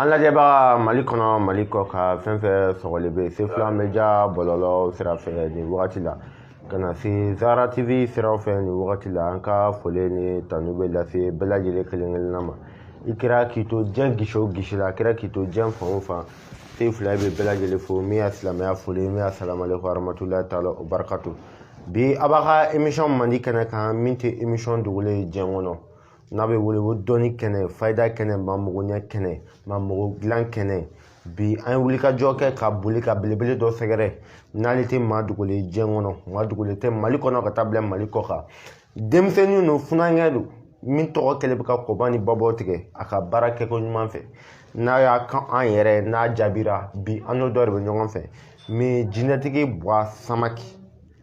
an lajɛbaga mali kɔnɔ mali kɔkan fɛn fɛn sɔgɔlen bɛ sefula media bɔlɔlɔ sira fɛ nin wagati la ka na se zara tv siraw fɛ nin wagati la an ka foli ni tanu bɛ lase bɛɛ lajɛlen kelen kelenna ma i kɛra k'i to diɲɛ gisi o gisi la a kɛra k'i to diɲɛ fan o fan sefula bɛ bɛɛ lajɛlen fo min y'a silamɛya foli min ye asalamalekum warahmatulahi taala wa barakatu bi a b'a ka emisɔn mandi kɛnɛ kan min tɛ emisɔn dogolen ye diɲɛ kɔnɔ n'a bɛ wele ko dɔnni kɛnɛ fayida kɛnɛ maa mago ɲɛ kɛnɛ maa mago dilan kɛnɛ bi an ye wulikajɔ kɛ ka boli ka belebele dɔ sɛgɛrɛ n'ale tɛ maa dogolen diɲɛ kɔnɔ maa dogolen tɛ mali kɔnɔ ka taa bila mali kɔkan denmisɛnnin don funankɛ don min tɔgɔ kɛlen bɛ ka kɔba ni babaw tigɛ a ka baara kɛko ɲuman fɛ n'a y'a kan an yɛrɛ n'a jaabira bi an n'o dɔ de bɛ ɲɔgɔn fɛ min jinɛtigi buwa samake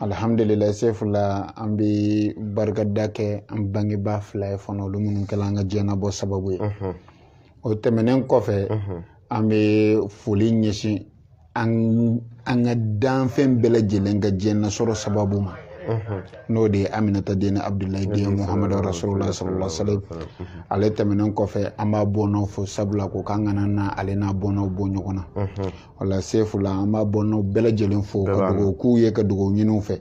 alihamdulilayi sefula an bɛ barikada kɛ an bangebaa fila ye fana olu minnu kɛla an ka diɲɛnabɔ sababu ye o tɛmɛnen kɔfɛ an bɛ foli ɲɛsin an ka danfɛn bɛɛ lajɛlen ka diɲɛnasɔrɔ sababu ma n'o de ye aminata den ni abudulayi den muhamadu rasulula sallallahu alaihi wasallam ale tɛmɛnen kɔfɛ an b'a bɔnnaw fo sabula ko k'an kana na ale n'a bɔnnaw bɔ ɲɔgɔn na wala sefula an b'a bɔnnaw bɛɛ lajɛlen fo ka dugawu k'u ye ka dugawu ɲini u fɛ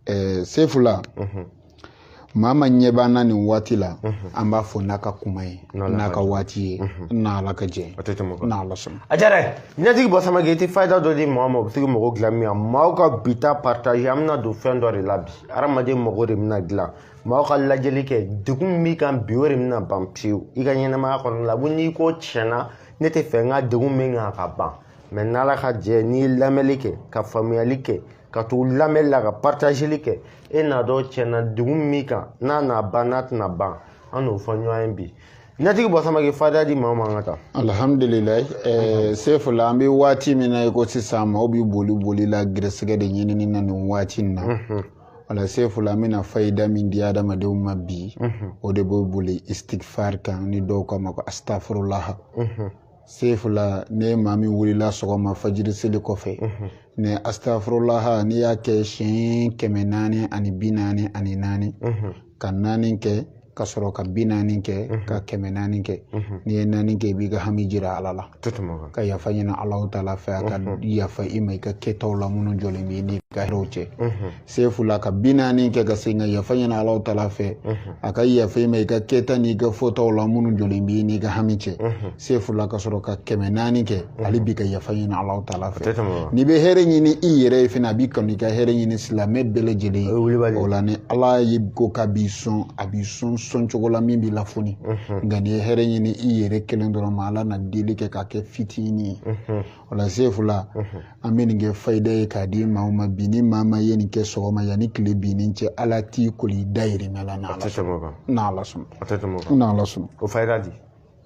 ɛɛ sefula maa maa ɲɛ b'an na nin waati la an b'a fɔ n'a ka kuma ye n'a ka waati ye n'ala ka jɛ n'ala sɔnna a diyara jinɛtigi buwa samake i tɛ fayida dɔ di mɔgɔ ma o bɛ se k'i mago dilan min na maaw ka bi ta partage an bɛna don fɛn dɔ de la bi hadamaden mago de bɛna dilan maaw ka lajɛli kɛ degun min b'i kan bi o de bɛna ban pewu i ka ɲɛnamaya kɔnɔna la ko n'i ko tiɲɛ na ne tɛ fɛ n ka degun min kan ka ban mɛ n'ala ka jɛ n'i ye lamɛnli kɛ ka faamuyali kɛ ka tugu lamɛnli la ka paratazeli kɛ i n'a dɔn tiɲɛ na degun min kan n'a na ban n'a tɛna ban an n'o fɔ ɲɔgɔn ye jinɛtigi buwa samake fayida di maa ma an ka taa alhamdulilayi eh, sefula an bɛ waati min na i ko sisan maaw bɛ boli boli la gɛrɛsɛgɛ de ɲinini na nin waati in na wala sefula an bɛna fayida min di adamadenw ma bi mhm. o de bɛ boli istigfar kan ni dɔw k'a ma ko astafurulaha mhm. sefula ni maa min wulila sɔgɔma fajiri seli kɔfɛ mhm. nin astafurulaha n'i y'a kɛ siɲɛ kɛmɛ naani ani bi naani ani naani ka naani kɛ ka sɔrɔ ka bi naani kɛ mhm. ka kɛmɛ naani kɛ mhm. n'i ye naani kɛ i b'i ka hami jira ala la ka yafa ɲini alahu taala fɛ a ka mhm. yafa i ma i ka kɛtaw la minnu jɔlen b'i n'i ka hɛrɛw cɛ sefula ka bi naani kɛ ka segin ka yafa ɲini alahu taala fɛ a ka yafa i ma i ka kɛta n'i ka fɔtaw la minnu jɔlen b'i n'i ka hami cɛ sefula ka sɔrɔ ka kɛmɛ naani kɛ hali bi ka yafa ɲini ala taala fɛ n'i bɛ hɛrɛ ɲini i yɛrɛ ye fana a bi kanu i ka hɛrɛ ɲini silamɛ bɛɛ lajɛlen ye o la ni ala ye ko k'a b'i sɔn a b'i sɔn sɔn cogo la min b'i lafoni nka n'i ye hɛrɛ ɲini i yɛrɛ kelen dɔrɔn ma ala na deli kɛ k'a kɛ fitinin ye o la sefula an bɛ nin kɛ fayida ye k'a di maaw ma bi ni maa ma ye nin kɛ sɔgɔma yanni tile binni cɛ ala t'i koli i dayirimɛ la n'ala sɔnna n'ala sɔnna n'ala sɔnna o fayida di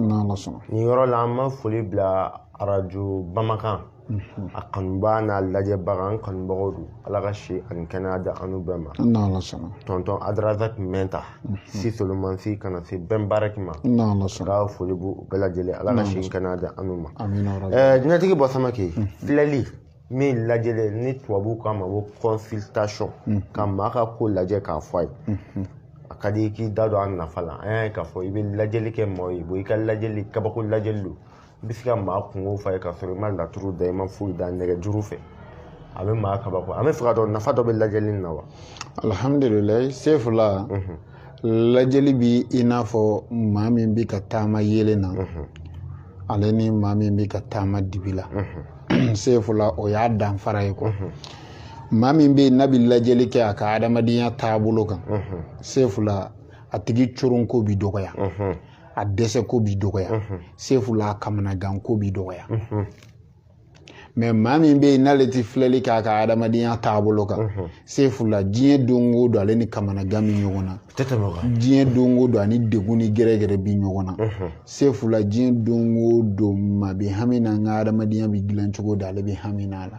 n'ala sɔnna nin yɔrɔ la an ma foli bila arajo bamakan mhm. a kanubaa n'a lajɛbaga an kanubagaw don ala ka si ani kɛnɛya di an n'u bɛɛ ma n'ala sɔnna tɔntɔn adrazak mɛnta mhm. si solomani si ka na se bɛn baaraki ma n'ala sɔnna ka foli b'u bɛɛ lajɛlen ala ka si kɛnɛya di an n'u ma jinɛtigi buwa samake mhm. filɛli min lajɛlen ni tubabuw k'a ma ko consultation mhm. ka maa ka ko lajɛ k'a fɔ a ye mhm. a ka di i k'i da don a nafa la an y'a ye k'a fɔ i bɛ lajɛli kɛ maaw ye i ka lajɛli kabako lajɛli don i bɛ se ka maa kunko fɔ a ye k'a sɔrɔ i ma laturu da i ma foyi da nɛgɛjuru fɛ a bɛ maa kabako an b'a fɛ k'a dɔn nafa dɔ bɛ lajɛli in na wa alihamdulilayi sefula mhm. lajɛli bi i n'a fɔ maa min bɛ ka taama yeelen na ale ni maa min bɛ ka taama dibi la sefula o y'a danfara ye quoi maa min bɛ yen n'a bɛ lajɛli kɛ a ka adamadenya taabolo kan sefula a tigi coronko bi dɔgɔya a dɛsɛko bi dɔgɔya sefula a kamanaganko bi dɔgɔya mais maa min bɛ yen n'ale tɛ filɛli k'a ka adamadenya taabolo kan sefula diɲɛ don o don ale ni kamanagan bɛ ɲɔgɔn na diɲɛ don o don a ni degun ni gɛrɛgɛrɛ bɛ ɲɔgɔn na sefula diɲɛ don o don maa bɛ hami na n ka adamadenya bɛ dilan cogo di ale bɛ hami na a la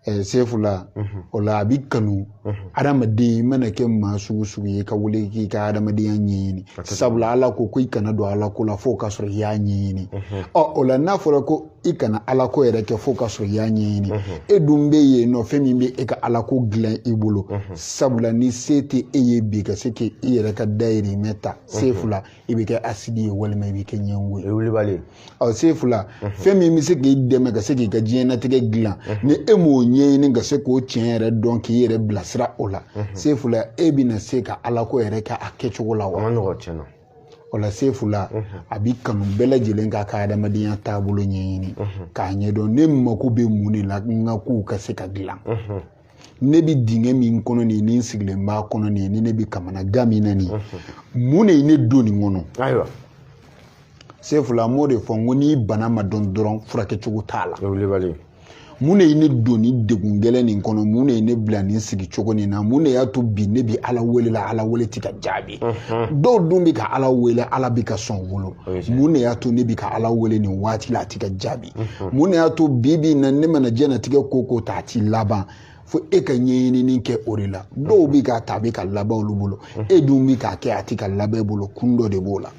eh, sefula mhm. o la a bɛ kanu mhm. adamaden i mana kɛ maa sugu sugu ye ka wuli k'i ka adamadenya ɲɛɲini sabula ala ko ko i kana don ala ko la fo ka sɔrɔ i y'a ɲɛɲini mhm. ɔ o la n'a fɔra ko i kana ala ko yɛrɛ kɛ fo ka sɔrɔ i y'a ɲɛɲini e dun bɛ yen nɔ fɛn min bɛ e ka ala ko dilan i bolo sabula ni se tɛ e ye bi ka se k'i yɛrɛ ka dayirimɛ ta sefula i bɛ kɛ asidi ye walima i bɛ kɛ ɲɛngo ye. o ye wulibali ye. ɔ sefula. fɛn min bɛ se k'i dɛmɛ ka se k'i ka diɲɛnatigɛ dilan. ni e m'o ɲɛɲini ka se k'o tiɲɛ yɛrɛ dɔn k'i yɛrɛ bilasira o la. sefula e bɛna se ka alako yɛrɛ kɛ a kɛcogo la wa. a ma nɔgɔ tiɲɛ na. o la sefula a bi kanu bɛɛ lajɛlen k'a ka adamadenya taabolo ɲɛɲini k'a ɲɛdɔn ne mako bɛ mun de la n ka kow ka se ka dilan. ne bɛ dingɛ min kɔnɔ nin ye ni n sigilen b'a kɔnɔ nin ye ni ne bɛ kamanagan min na nin ye mun de ye ne don nin kɔnɔ ayiwa sefula n b'o de fɔ n ko n'i bana ma dɔn dɔrɔn furakɛ cogo t'a la mun de ye ne don ni degun gɛlɛn nin kɔnɔ mun de ye ne bila nin sigi cogo nin na mun de y'a to bi ne bɛ ala wele la ala wele tɛ ka jaabi dɔw dun bɛ ka ala wele ala bɛ ka sɔn wolo mun de y'a to ne bɛ ka ala wele nin waati la a tɛ ka jaabi mun de y'a to bi bi in na ne mana diɲɛnatigɛ ko ko ta a ti laban fo e ka ɲɛɲinini kɛ o de la dɔw bi k'a ta a bɛ ka laban olu bolo e dun bi k'a kɛ a ti ka laban e bolo kun dɔ de b'o la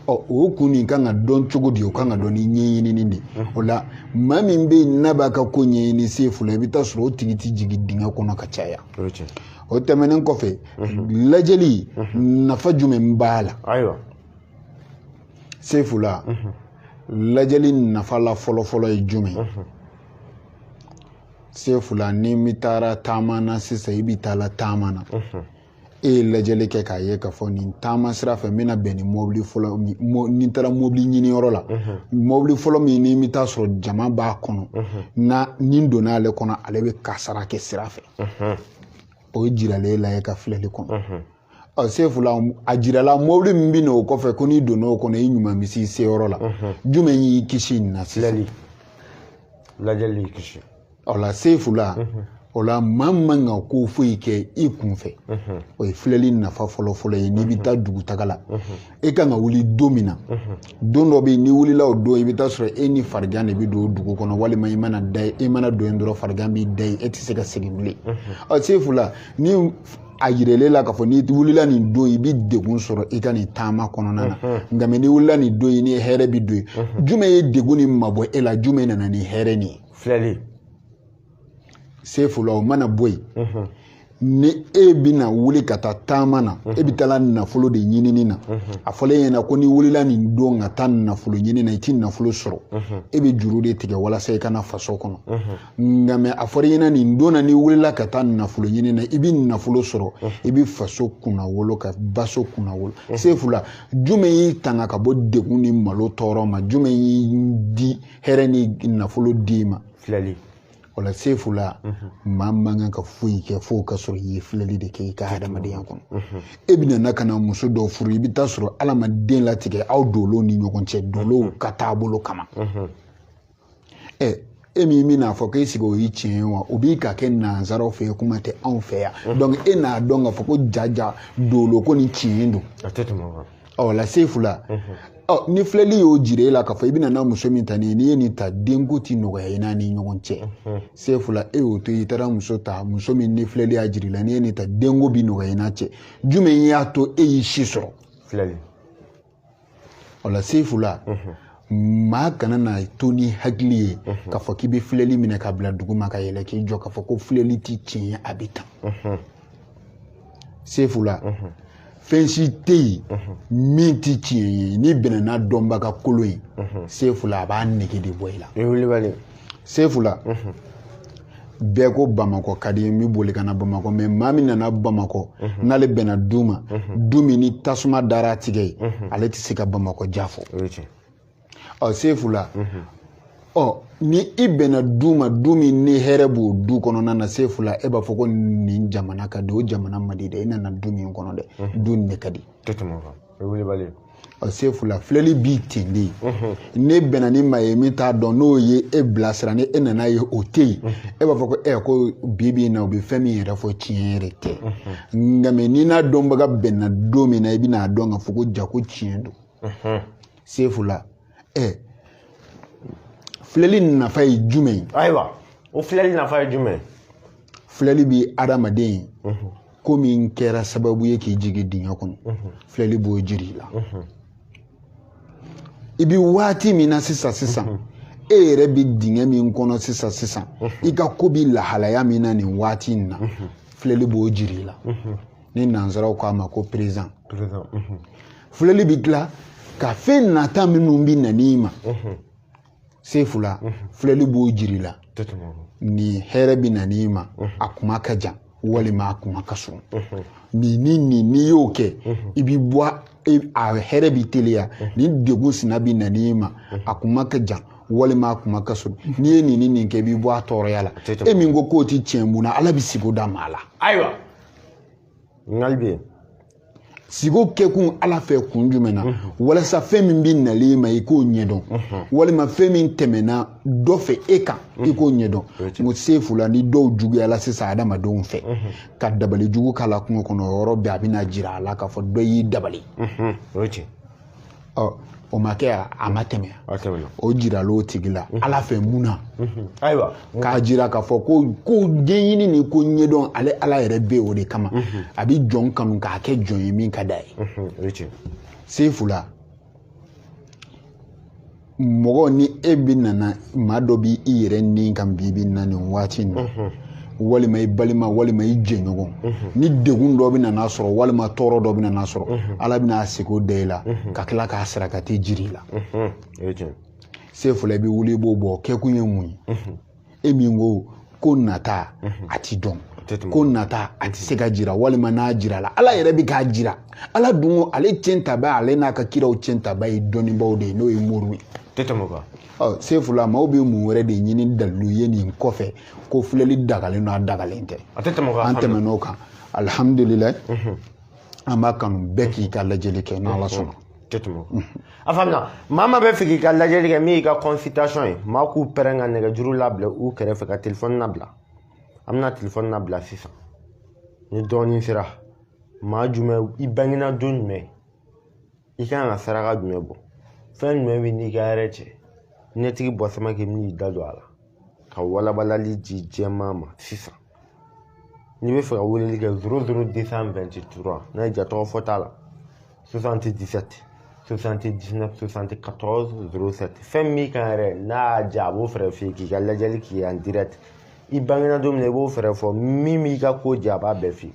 ɔ o kun nin kan ka dɔn cogo di o kan ka dɔn ni ɲɛɲinini de o la maa min bɛ yen n'a b'a ka ko ɲɛɲini sefula i bɛ taa sɔrɔ o tigi tɛ jigin dingɛ kɔnɔ ka caya o tɛmɛnen kɔfɛ lajɛli nafa jumɛn b'a la sefula lajɛli nafa la fɔlɔfɔlɔ ye jumɛn sefula ni min taara taama na sisan i bi taa la taama na e ye lajɛli kɛ k'a ye k'a fɔ nin taama sira fɛ n bɛna bɛn ni mɔbili fɔlɔ ni n taara mɔbili ɲiniyɔrɔ la mɔbili fɔlɔ min ni n bɛ taa sɔrɔ jama b'a kɔnɔ ni n donna ale kɔnɔ ale bɛ kasara kɛ sira fɛ o ye jiralen e la e ka filɛli kɔnɔ ɔ sefula a jirala mɔbili min bɛ na o kɔfɛ ko n'i donna o kɔnɔ i ɲuman bɛ s'i seyɔrɔ la jumɛn y'i kisi nin na sisan lajɛli y'i kisi o la sefula o la maa man kan ka ko foyi kɛ i kunfɛ o ye filɛli nafa fɔlɔfɔlɔ ye n'i bɛ taa dugutaga la e kan ka wuli don min na don dɔ bɛ yen n'i wulila o don i bɛ taa sɔrɔ e ni farigan de bɛ don dugu kɔnɔ walima i mana don yen dɔrɔn farigan b'i da yen e tɛ se ka segin bilen ɔ sefula ni a yirala e la k'a fɔ n'i wulila nin don i bɛ degun sɔrɔ i ka nin taama kɔnɔna na nka mɛ n'i wulila nin don i ni hɛrɛ bɛ don yen jumɛn ye degun nin mabɔ e la jumɛn nana ni hɛrɛ nin ye filɛli sefula o mana bɔ yen mhm. ni e bɛna wuli ka taa taama na mhm. e bɛ taa nafolo de ɲinini na mhm. a fɔlen e ɲɛna ko n'i wulila nin don ka taa nafolo ɲini na i ti nafolo sɔrɔ e bɛ juru de tigɛ walasa i ka na faso kɔnɔ nka mɛ a fɔra e ɲɛna nin don na n'i wulila ka taa nafolo ɲini na i bɛ nafolo sɔrɔ i bɛ faso kunna wolo ka baso kunna wolo sefula jumɛn y'i tanga ka bɔ degun ni malo tɔɔrɔ ma jumɛn y'i di hɛrɛ ni nafolo d'i ma filɛli o la sefula maa man kan ka foyi kɛ fo ka sɔrɔ i ye filɛli de kɛ i ka hadamadenya kɔnɔ e bɛna na ka na muso dɔ furu i bɛ taa sɔrɔ ala ma den latigɛ aw dolow ni ɲɔgɔn cɛ dolow ka taabolo kama ɛ e min bɛn'a fɔ k'e sigi o ye tiɲɛ ye wa o bɛ ka kɛ nansaraw fɛ yen kuma tɛ anw fɛ yan donc e n'a dɔn k'a fɔ ko jaja dolo ko nin tiɲɛ don a tɛ tɛmɛ o kan ɔ la sefu la ɔ ni filɛli y'o jira e la k'a fɔ i bɛna na muso min ta ni ye n'i ye nin ta denko ti nɔgɔya i n'a ni ɲɔgɔn cɛ sefu la e y'o to i taara muso ta muso min ni filɛli y'a jira i la n'i ye nin ta denko bi nɔgɔya i n'a cɛ jumɛn y'a to e y'i si sɔrɔ filɛli ɔ la sefu la maa kana na to ni hakili ye k'a fɔ k'i bɛ filɛli minɛ k'a bila dugu ma ka yɛlɛ k'i jɔ k'a fɔ ko filɛli ti tiɲɛ ye a bɛ tan sefu la fɛn si tɛ yen min tɛ tiɲɛ ye n'i bɛnna n'a dɔnbaga kolon ye sefu la a b'a nege de bɔ i la wulibali sefu la bɛɛ ko bamakɔ ka di n bɛ boli ka na bamakɔ mɛ maa min nana bamakɔ n'ale bɛnna du ma du min ni tasuma dara a tigɛ ye ale tɛ se ka bamakɔ diya fɔ ɔ sefu la ɔ ni i bɛnna du ma du min ni hɛrɛ b'o du kɔnɔna na sefu la e b'a fɔ ko nin jamana ka di o jamana man di dɛ i nana du min kɔnɔ dɛ du nin de ka di tɛ tɛmɛ o kan o ye wulibali ye ɔ sefu la filɛli b'i ten de n'e bɛnna ni maa ye min t'a dɔn n'o ye e bilasira ni e nana ye o tɛ yen e b'a fɔ ko ɛ ko bi bi in na u bɛ fɛn min yɛrɛ fɔ tiɲɛ yɛrɛ tɛ nka mɛ n'i n'a dɔnbaga bɛnna don min na i bɛna a dɔn k'a fɔ ko jaa ko tiɲɛ don sefu la ɛ eh, filɛli nafa ye jumɛn ye ayiwa o filɛli nafa ye jumɛn filɛli bi adamaden ye mhm. ko min kɛra sababu ye k'i jigi dingɛ kɔnɔ mhm. filɛli b'o jir'i la mhm. i bi waati min na sisan sisan e yɛrɛ bi dingɛ min kɔnɔ sisan sisan i ka ko bi lahalaya min na nin waati in na filɛli b'o jir'i la ni nansaraw k'a ma ko présent filɛli bɛ tila ka fɛn nata minnu bɛna n'i ma sefu la filɛli b'o jir'i la ni hɛrɛ bɛna n'i ma a kuma ka jan walima a kuma ka surun nin ni nin n'i y'o kɛ i bɛ bɔ a hɛrɛ bi teliya ni degun sina bɛna n'i ma a kuma ka jan walima a kuma ka surun n'i ye nin ni nin kɛ i bɛ bɔ a tɔɔrɔya la e min ko k'o tɛ tiɲɛ mun na ala bɛ sigo da maa la ayiwa n ka bi sigo kɛkun ala fɛ kun jumɛn na walasa fɛn min bɛ nalen i ma i k'o ɲɛdɔn walima fɛn min tɛmɛna dɔ fɛ e kan i k'o ɲɛdɔn nko sefu la ni dɔw juguyala sisan adamadenw fɛ ka dabali jugu k'a la kungo kɔnɔ yɔrɔ bɛɛ a bɛna jira a la k'a fɔ dɔ y'i dabali o ma kɛ a ma tɛmɛ o jiral'o tigi la mhm. ala fɛ mun na mhm. ayiwa k'a jira k'a fɔ ko ko ɲɛɲini ni ko ɲɛdɔn ale ala yɛrɛ bɛ o de kama mhm. a bɛ jɔn kanu k'a kɛ jɔn ye min ka d'a ye sefu la mɔgɔ ni e bɛ nana maa dɔ b'i i yɛrɛ ni kan bi bi na nin waati in na walima i balima walima i jɛɲɔgɔn ni degun dɔ bɛ nana sɔrɔ walima tɔɔrɔ dɔ bɛ nana sɔrɔ ala bɛna a siko da i la ka tila k'a sarakati jir'i la sefula i bɛ wuli i b'o bɔ kɛkun ye mun ye e min ko ko nata a ti dɔn ko nata a ti se ka jira walima n'a jirala ala yɛrɛ bɛ k'a jira ala dun ko ale ciyɛntaba ale n'a ka kiraw ciyɛntaba ye dɔnnibaaw de ye n'o ye moriw ye sefula maaw bɛ mun wɛrɛ de ɲini dalilu ye nin kɔfɛ ko filɛli dagalen don a dagalen tɛ an tɛmɛn'o kan alihamdulilayi an b'a kanu bɛɛ k'i ka lajɛli kɛ ni ala sɔnna tɛ tɛmɛ o kan a faamuya maa ma bɛ fɛ k'i ka lajɛli kɛ min y'i ka consultation ye maa k'u pɛrɛn ka nɛgɛjuru labila u kɛrɛfɛ ka telefɔni labila an bɛna telefɔni labila sisan ni dɔɔnin sera maa jumɛn i bangena don jumɛn i kan ka saraka jumɛn bɔ fɛn jumɛn b'i n'i ka hɛrɛ cɛ ɲɛtigi bɔsama k'i bɛn'i da don a la ka walabalali di jama ma sisan n'i bɛ fɛ ka weleli kɛ zoro zoro desan wɛnti tura n'a indicatif t'a la sosanti disɛti sosanti disinɛf sosanti katɔrɔzi zoro sɛti fɛn min kan yɛrɛ n'a y'a ja a b'o fɛɛrɛ f'i ye k'i ka lajɛli k'i en direct i bangena don min na i b'o fɛɛrɛ fɔ min b'i ka ko ja a b'a bɛɛ f'i ye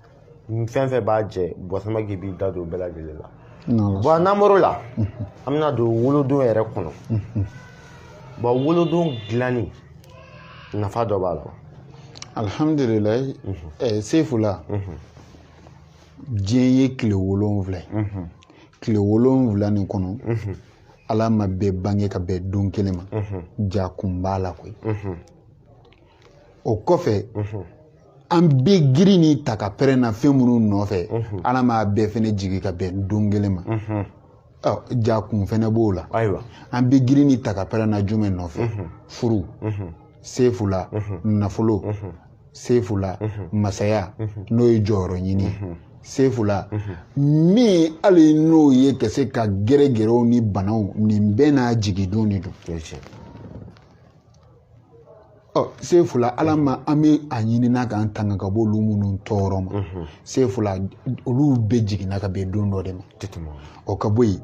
fɛn fɛn b'a jɛ bɔsama k'i b'i da don bɛɛ lajɛlen la bon n'an bɔr'o la an bɛna don wolodon yɛrɛ kɔnɔ bon wolodon dilanni nafa dɔ b'a la alihamdulilayi mhm. sefula mhm. diɲɛ ye tile wolonwula ye mhm. tile wolonwula nin kɔnɔ ala ma bɛɛ bange ka bɛn don kelen ma jaa kun b'a la koyi o kɔfɛ an bɛ girin ni ta ka pɛrɛn na fɛn minnu nɔfɛ ala m'a bɛɛ fɛnɛ jigin ka bɛn don kelen ma jaa kun fɛnɛ b'o la ayiwa an bɛ girin ni ta ka pɛrɛn na jumɛn nɔfɛ furu sefula nafolo sefula masaya n'o ye jɔyɔrɔ ɲini sefula min hali n'o ye ka se ka gɛrɛgɛrɛw ni banaw nin bɛɛ n'a jigindon de don sefula ala ma an bɛ a ɲini n'a k'an tanga ka bɔ olu minnu tɔɔrɔ ma sefula olu bɛɛ jiginna ka bɛn don dɔ de ma o ka bɔ yen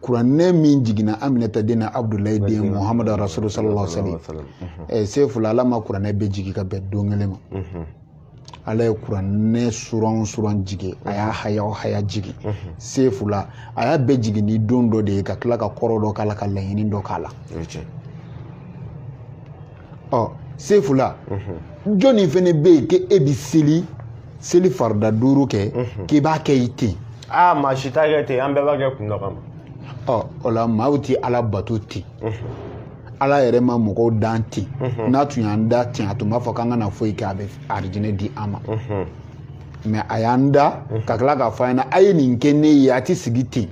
kuranɛ min jiginna aminata den na abudulayi den muhamadu rasulu sallallahu alaihi wasallam sefula ala ma kuranɛ bɛɛ jigin ka bɛn don kelen ma ala ye kuranɛ suran o suran jigin a y'a haya o haya jigin sefula a y'a bɛɛ jigin ni don dɔ de ye ka tila ka kɔrɔ dɔ k'a la ka laɲini dɔ k'a la ɔ sefula jɔnni fɛnɛ bɛ yen k'e bi seli seli farida duuru kɛ k'i b'a kɛ i ten aa maa si t'a kɛ ten an bɛɛ b'a kɛ kun dɔ kama ɔ o la maaw ti ala bato ten ala yɛrɛ ma mɔgɔw dan ten n'a tun y'an da ten a tun b'a fɔ k'an kana foyi kɛ a bɛ arijinɛ di an ma mɛ a y'an da ka tila k'a fɔ an ɲɛna a ye nin kɛ ne ye a ti sigi ten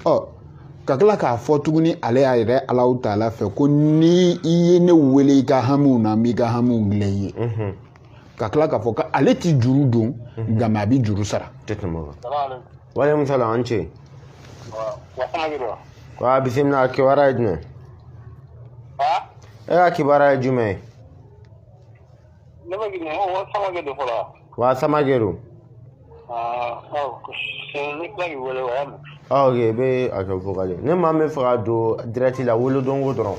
ɔ ka tila k'a fɔ tuguni ale y'a yɛrɛ alahu taala fɛ ko ni i ye ne wele i ka hamiw na n b'i ka hamiw dilan i ye ka tila k'a fɔ ko ale ti juru don mhm. nka mɛ a bɛ juru sara waleykum salam an ce wa bisimila a kibaruya ye jumɛn e ka kibaruya ye jumɛn ye ne bɛ girin ko wa samake don fɔlɔ wa samake don ok i bɛ a kɛ vokali ne maa min fɛ ka don dirɛti la wolodonko dɔrɔn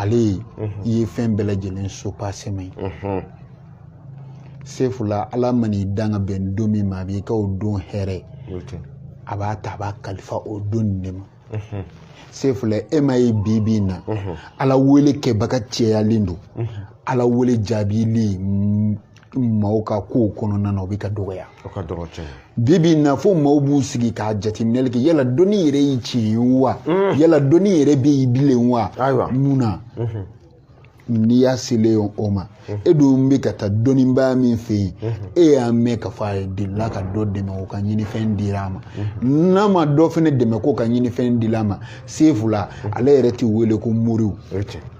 ale de ye fɛn bɛɛ lajɛlen subasɛman ye sefula ala man'i dan ka bɛn don min ma a b'i ka o don hɛrɛ a b'a ta a b'a kalifa o don nin de ma sefula e ma ye bi bi in na ala wele kɛbaga cɛyalen don ala wele jaabili maaw ka kow kɔnɔna na o bɛ ka dɔgɔya bi bi in na fo maaw b'u sigi ka jateminɛli kɛ yala dɔnni yɛrɛ ye tiɲɛ ye wa mm. yala dɔnni yɛrɛ bɛ yen bilen wa mun na mm-hmm. n'i y'a selen o ma mm-hmm. e dun bɛ ka taa dɔnnibaa min fɛ yen mm-hmm. e y'a mɛn k'a fɔ ale delila ka dɔ dɛmɛ o ka ɲinifɛn dira a ma n'a ma dɔ fana dɛmɛ k'o ka ɲinifɛn dila a ma sefula ale yɛrɛ tɛ wele ko moriw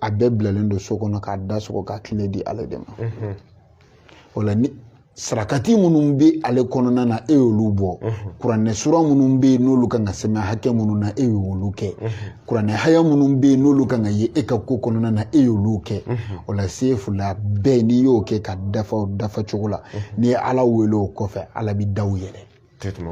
a bɛɛ bilalen don so kɔnɔ k'a da sɔgɔ k'a kile di ale de ma mhm. o la ni sarakati minnu bɛ ale kɔnɔna na e y'olu bɔ mhm. kuranɛ sura minnu bɛ yen n'olu kan ka sɛmɛ hakɛ minnu na e y'olu kɛ mhm. kuranɛ haya minnu bɛ yen n'olu kan ka ye e ka ko kɔnɔna na e y'olu kɛ o la sefula bɛɛ n'i y'o kɛ k'a dafa dafa cogo la n'i ye ala wele o kɔfɛ ala bɛ daw yɛlɛ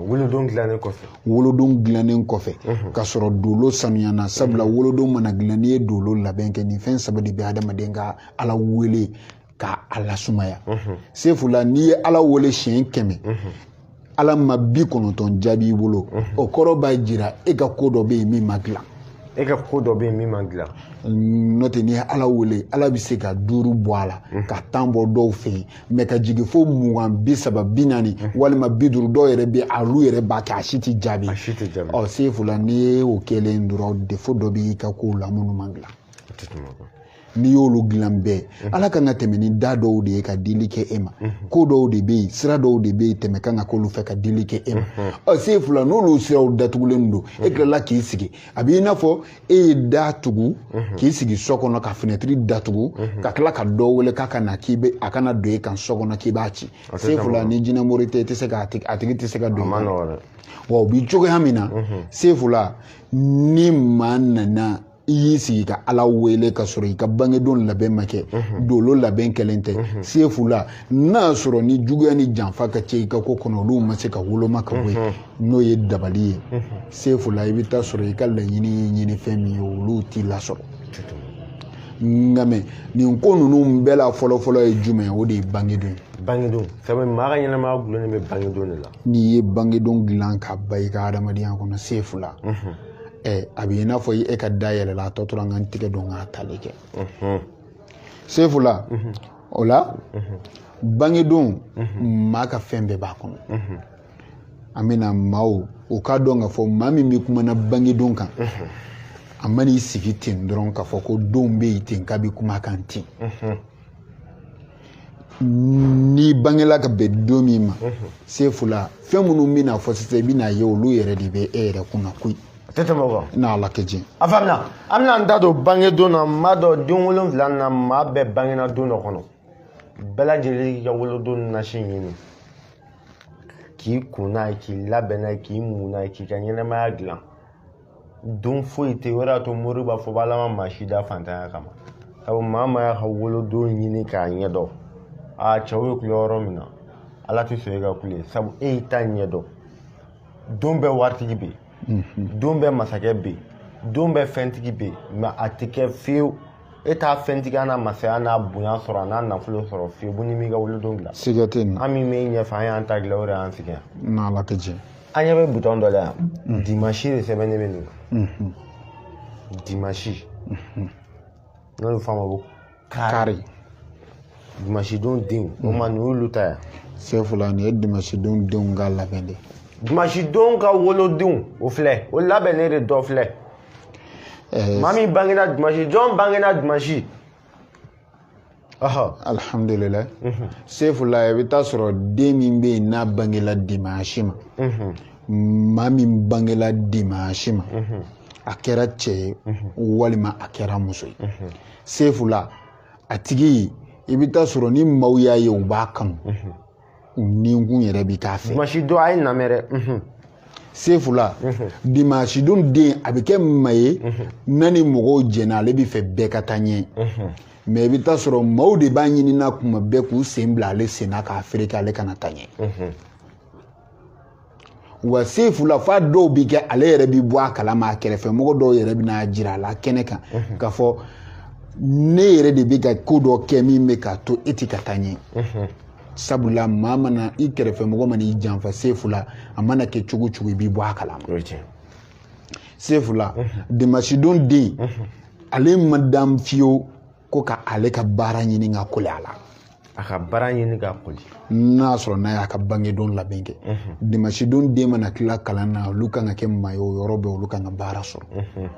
wolodon dilannen kɔfɛ wolodon dilannen kɔfɛ ka sɔrɔ dolo sanuyana sabula wolodon mana dilan n'i ye dolo labɛn kɛ nin fɛn saba de bɛ adamaden ka ala wele ka a lasumaya sefula n'i ye ala wele siɲɛ kɛmɛ ala ma bi kɔnɔntɔn jaabi i bolo o kɔrɔ b'a jira e ka ko dɔ bɛ yen min ma dilan e ka ko dɔ bɛ yen min ma dilan n'o tɛ n'i ye ala wele ala bɛ se ka duuru bɔ a la ka tan bɔ dɔw fɛ yen mɛ ka jigin fo mugan bi saba bi naani walima bi duuru dɔw yɛrɛ bɛ a olu yɛrɛ b'a kɛ a si tɛ jaabi ɔ sefula n'i ye o kɛlen dɔrɔn defo dɔ b'i ka kow la minnu ma dilan n'i y'olu dilan bɛɛ ala kan ka tɛmɛ ni da dɔw de ye ka dili kɛ e ma ko dɔw de bɛ yen sira dɔw de bɛ yen tɛmɛ kan ka k'olu fɛ ka dili kɛ e ma ɔ sefula n'olu siraw datugulen don e tilala k'i sigi a b'i n'a fɔ e ye da tugu mhm. k'i sigi so kɔnɔ ka finɛtiri datugu mhm. ka tila ka dɔ wele k'a ka na k'i bɛ a kana don e kan so kɔnɔ k'i b'a ci sefula ni jinɛmori tɛ i tɛ se ka a tigi tɛ se ka don wa o bi cogoya min na mhm. sefula ni maa nana i y'i sigi ka ala wele ka sɔrɔ i ka bangedon labɛn ma kɛ dolo labɛn kɛlen tɛ sefula n'a sɔrɔ nijuguya ni janfa ka ca i ka ko kɔnɔ olu ma se ka woloma ka bɔ yen n'o ye dabali ye sefula i bɛ taa sɔrɔ i ka laɲini ye ɲini fɛn min ye olu t'i lasɔrɔ nka mɛ nin ko ninnu bɛɛ la fɔlɔfɔlɔ ye jumɛn ye o de ye bangedon ye bangedon sabu maa ka ɲɛnamaya gulonnen bɛ bangedon de la n'i ye bangedon dilan ka ban i ka hadamadenya kɔnɔ sefula ɛ a bɛ i n'a fɔ e ka da yɛlɛla a tɔ tora n ka n tigɛ don k'a tali kɛ sefula o la bangedon maa ka fɛn bɛɛ b'a kɔnɔ an bɛna maaw o k'a dɔn k'a fɔ maa min bɛ kumana bangedon kan a man'i sigi ten dɔrɔn k'a fɔ ko donw bɛ yen ten k'a bɛ kuma kan ten n'i bangela ka bɛn don min ma sefula fɛn minnu bɛna fɔ sisan i bɛna ye olu yɛrɛ de bɛ e yɛrɛ kunna koyi a tɛ tɛmɛ o kan n'ala ka jɛn a faamuna an bɛna an da don bangedon na maa don den wolonwula na maa bɛɛ bangena don dɔ kɔnɔ bɛɛ lajɛlen k'i ka wolodon nasi ɲini k'i ko n'a ye k'i labɛn n'a ye k'i mun n'a ye k'i ka ɲɛnamaya dilan don foyi tɛ o de y'a to mori b'a fɔ b'ala ma maa si da fantanya kama sabu maa o maa y'a ka wolodon ɲini k'a ɲɛdɔn a cɛw bɛ kule yɔrɔ min na ala tɛ sɔn e ka kule sabu e y'i ta ɲɛdɔn don bɛɛ waritigi bɛ yen don bɛɛ masakɛ bɛ yen don bɛɛ fɛntigi bɛ yen mɛ a tɛ kɛ fiyewu e t'a fɛntigiya n'a masaya n'a bonya sɔrɔ a n'a nafolo sɔrɔ fiyewu ko n'i m'i ka wolodon dilan siga tɛ nin na an min bɛ ɲɛfɛ an y'an ta dilan o de y'an sigi yan n'ala ka jɛn an ɲɛ bɛ butɔn dɔ la yan mm. dimansi de sɛbɛnnen bɛ nin kan mm-hmm. dimansi mm-hmm. n'o bɛ f'a ma ko kari dimansi don denw o ma nin y'olu ta yan sefula nin ye dimansi don denw ka labɛn de dimansi don ka wolodenw o filɛ o labɛnnen de dɔ filɛ eh, maa min bangena dimanche jɔn bangena dimanche alhamdulillah mhm. sefula i bɛ taa sɔrɔ den min bɛ yen n'a bangela dimanche ma mhm. maa min bangela dimanche ma mhm. a kɛra cɛ ye walima a kɛra muso ye sefula a tigi i bɛ taa sɔrɔ ni maaw y'a ye u b'a kanu ninkun yɛrɛ bɛ k'a fɛ. dimanche don a ye namɛn dɛ. Mhm. sefula mhm. dimanche don den a bɛ kɛ maa ye mhm. n'a ni mɔgɔw jɛnna ale bɛ fɛ bɛɛ ka taa ɲɛ. mɛ i bɛ taa sɔrɔ maaw de b'a ɲinina kuma bɛɛ k'u sen bila ale sen na k'a fereke ale kana taa ɲɛ. wa sefula f'a dɔw bi kɛ ale yɛrɛ bi bɔ a kalama a kɛrɛfɛ mɔgɔ dɔw yɛrɛ bɛ n'a jira a la kɛnɛ kan mhm. k'a fɔ ne yɛrɛ de bɛ ka ko dɔ kɛ min bɛ k'a to e ti ka taa ɲɛ mhm. sabula maa mana i kɛrɛfɛ mɔgɔ mana i janfa sefula a mana kɛ cogo cogo i b'i bɔ a kalama sefula mhm. dimasidon den ale ma dan fiyewu ko ka ale ka baara ɲini ka kole a la a ka baara ɲini ka koli n'a y'a sɔrɔ n'a y'a ka bangedon labɛn kɛ mhm. dimansi don den mana tila kalan na olu kan ka kɛ maa ye o yɔrɔ bɛɛ olu kan ka baara sɔrɔ mhm.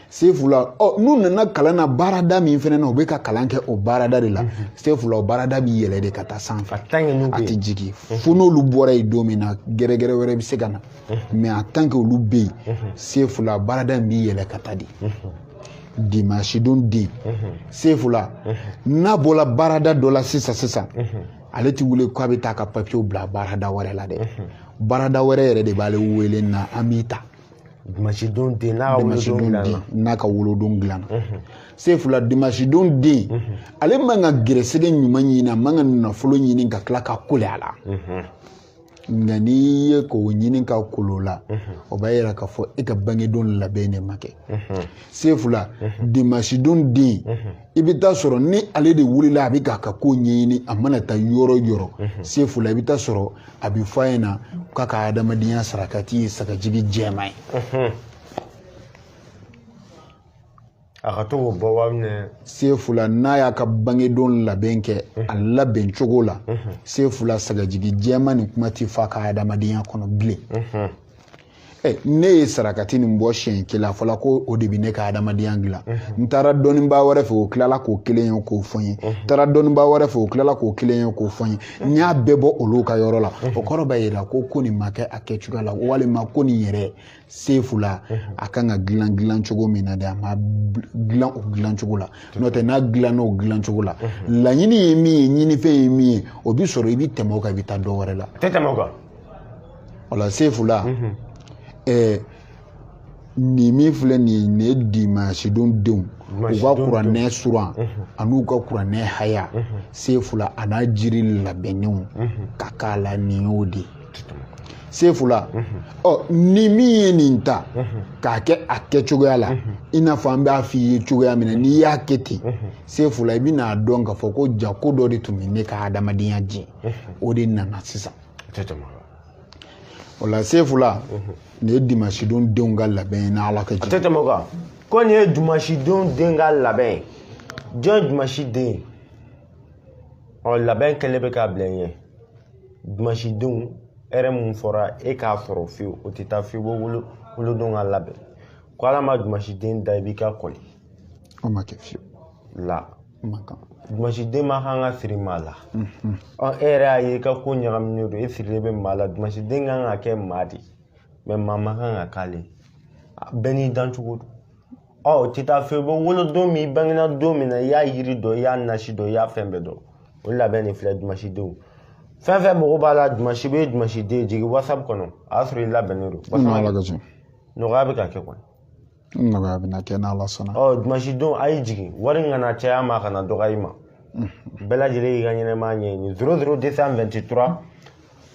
sefula ɔ n'u nana kalan na baarada min fana na u bɛ ka kalan kɛ o baarada de la mhm. sefula o baarada b'i yɛlɛ de ka taa sanfɛ a tɛ jigin fo n'olu bɔra yen don min na gɛrɛgɛrɛ wɛrɛ bɛ se ka na mɛ en tant que olu bɛ yen sefula baarada in b'i yɛlɛ ka taa de dimasidon den sefula n'a bɔla baarada dɔ la sisan sisan ale ti wuli k'a bɛ taa ka papiyew bila baarada wɛrɛ la dɛ baarada wɛrɛ yɛrɛ de b'ale wele na an b'i ta dimasidon den n'a ka wolodon dilanna n'a ka wolodon dilanna sefula dimasidon den ale man ka gɛrɛsɛgɛ ɲuman ɲini a man ka nafolo ɲini ka tila ka kole a la nka n'i ye k'o ɲini ka kol'o la o b'a yira k'a fɔ e ka bangedon labɛn de ma kɛ sefula dimasidon den i bɛ taa sɔrɔ ni ale de wulila a bɛ k'a ka ko ɲɛɲini a mana taa yɔrɔ yɔrɔ sefula i bɛ taa sɔrɔ a bɛ fɔ a ɲɛna k'a ka adamadenya sarakati ye sagajigi jɛman ye a ka to k'o bɔ waa minɛ sefula n'a y'a ka bangedon labɛn kɛ a labɛn cogo la sefula sagajigi jɛman nin kuma ti fɔ a ka adamadenya kɔnɔ bilen Eh, ne ye sarakati nin bɔ siɲɛ kelen a fɔla ko o de bi ne ka adamadenya dilan mhm. n taara dɔnnibaa wɛrɛ fɛ o tilala k'o kelen ye k'o fɔ n ye mhm. n taara dɔnnibaa wɛrɛ fɛ o tilala k'o kelen ye k'o fɔ n ye mhm. n y'a bɛɛ bɔ olu ka yɔrɔ la o kɔrɔ b'a yira ko ko nin ma kɛ a kɛcogoya la walima ko nin yɛrɛ sefu la a kan ka dilan dilan cogo min na de a ma dilan o dilan cogo la n'o tɛ n'a dilanna o dilan cogo la laɲini ye min ye ɲinifɛn ye min ye o bi sɔrɔ i bi tɛmɛ o kan i bi taa dɔ wɛrɛ la tɛ tɛmɛ o kan o la sefu la ɛɛ nin min filɛ nin ye nin ye dimansidon denw u ka kuranɛ suran an'u ka kuranɛ haya sefu la a n'a jiri labɛnnenw ka k'a la nin y'o de ye se fula ɔ ni min ye nin ta k'a kɛ a kɛ cogoya la i n'a fɔ an b'a f'i ye cogoya min na n'i y'a kɛ ten se fula i bɛna a dɔn k'a fɔ ko jaa ko dɔ de tun bɛ ne ka adamadenya jɛ o de nana sisan o la se fula nin ye dimasidon denw ka labɛn ye n'ala ka jɛ ko nin ye dimasidon den ka labɛn ye jɔn ye dimasi den ye ɔ labɛn kɛlen bɛ k'a bila n ɲɛ dimansidenw hɛrɛ mun fɔra e k'a sɔrɔ fiyewu o tɛ taa fiyewu wolo wolodon ka labɛn kɔ ala ma dimansiden da i bi ka kɔli o ma kɛ fiyewu la dimansiden ma kan ka siri maa la mhm. ɔ e yɛrɛ y'a ye i ka ko ɲagaminen don e sirilen bɛ maa la dimansiden kan ka kɛ maa de mais maa ma kan ka k'ale bɛɛ n'i dancogo don ɔ o tɛ taa fewu wolodon min bangena don min na i y'a yiri dɔn i y'a nasi dɔn i y'a fɛn bɛɛ dɔn o labɛn de filɛ dumasidenw fɛn fɛn mago b'a la dumasi bɛ dumasiden jigin whatsapp kɔnɔ a y'a sɔrɔ i labɛnnen don nɔgɔya bɛ ka kɛ kɔni nɔgɔya bɛ na kɛ n'ala sɔnna ɔ dumasidenw a y'i jigin wari kana caya i ma a kana dɔgɔya i ma bɛɛ lajɛlen y'i ka ɲɛnɛmaya ɲɛɲini zero zero deux cent vingt trois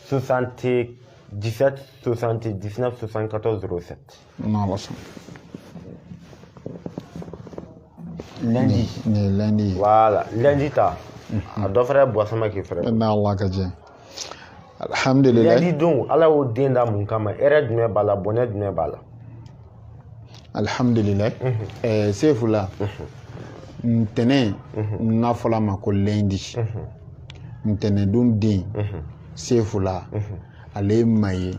soixante dix sept soixante dix neuf soixante quatorze zero sept n'ala sɔnna. lundi. ne lundi. voilà lundi ta. a dɔ fɛrɛ bɔ sama k'i fɛrɛ. n'ala ka jɛ. alhamdulilayi. lundi don ala y'o den da mun kama hɛrɛ jumɛn b'a la bɔnɛ jumɛn b'a la. alhamdulilayi. ɛɛ sefu la. ntɛnɛn. n'a fɔl'a ma ko lundi. ntɛnɛndon den. sefu la. ale ye maa ye.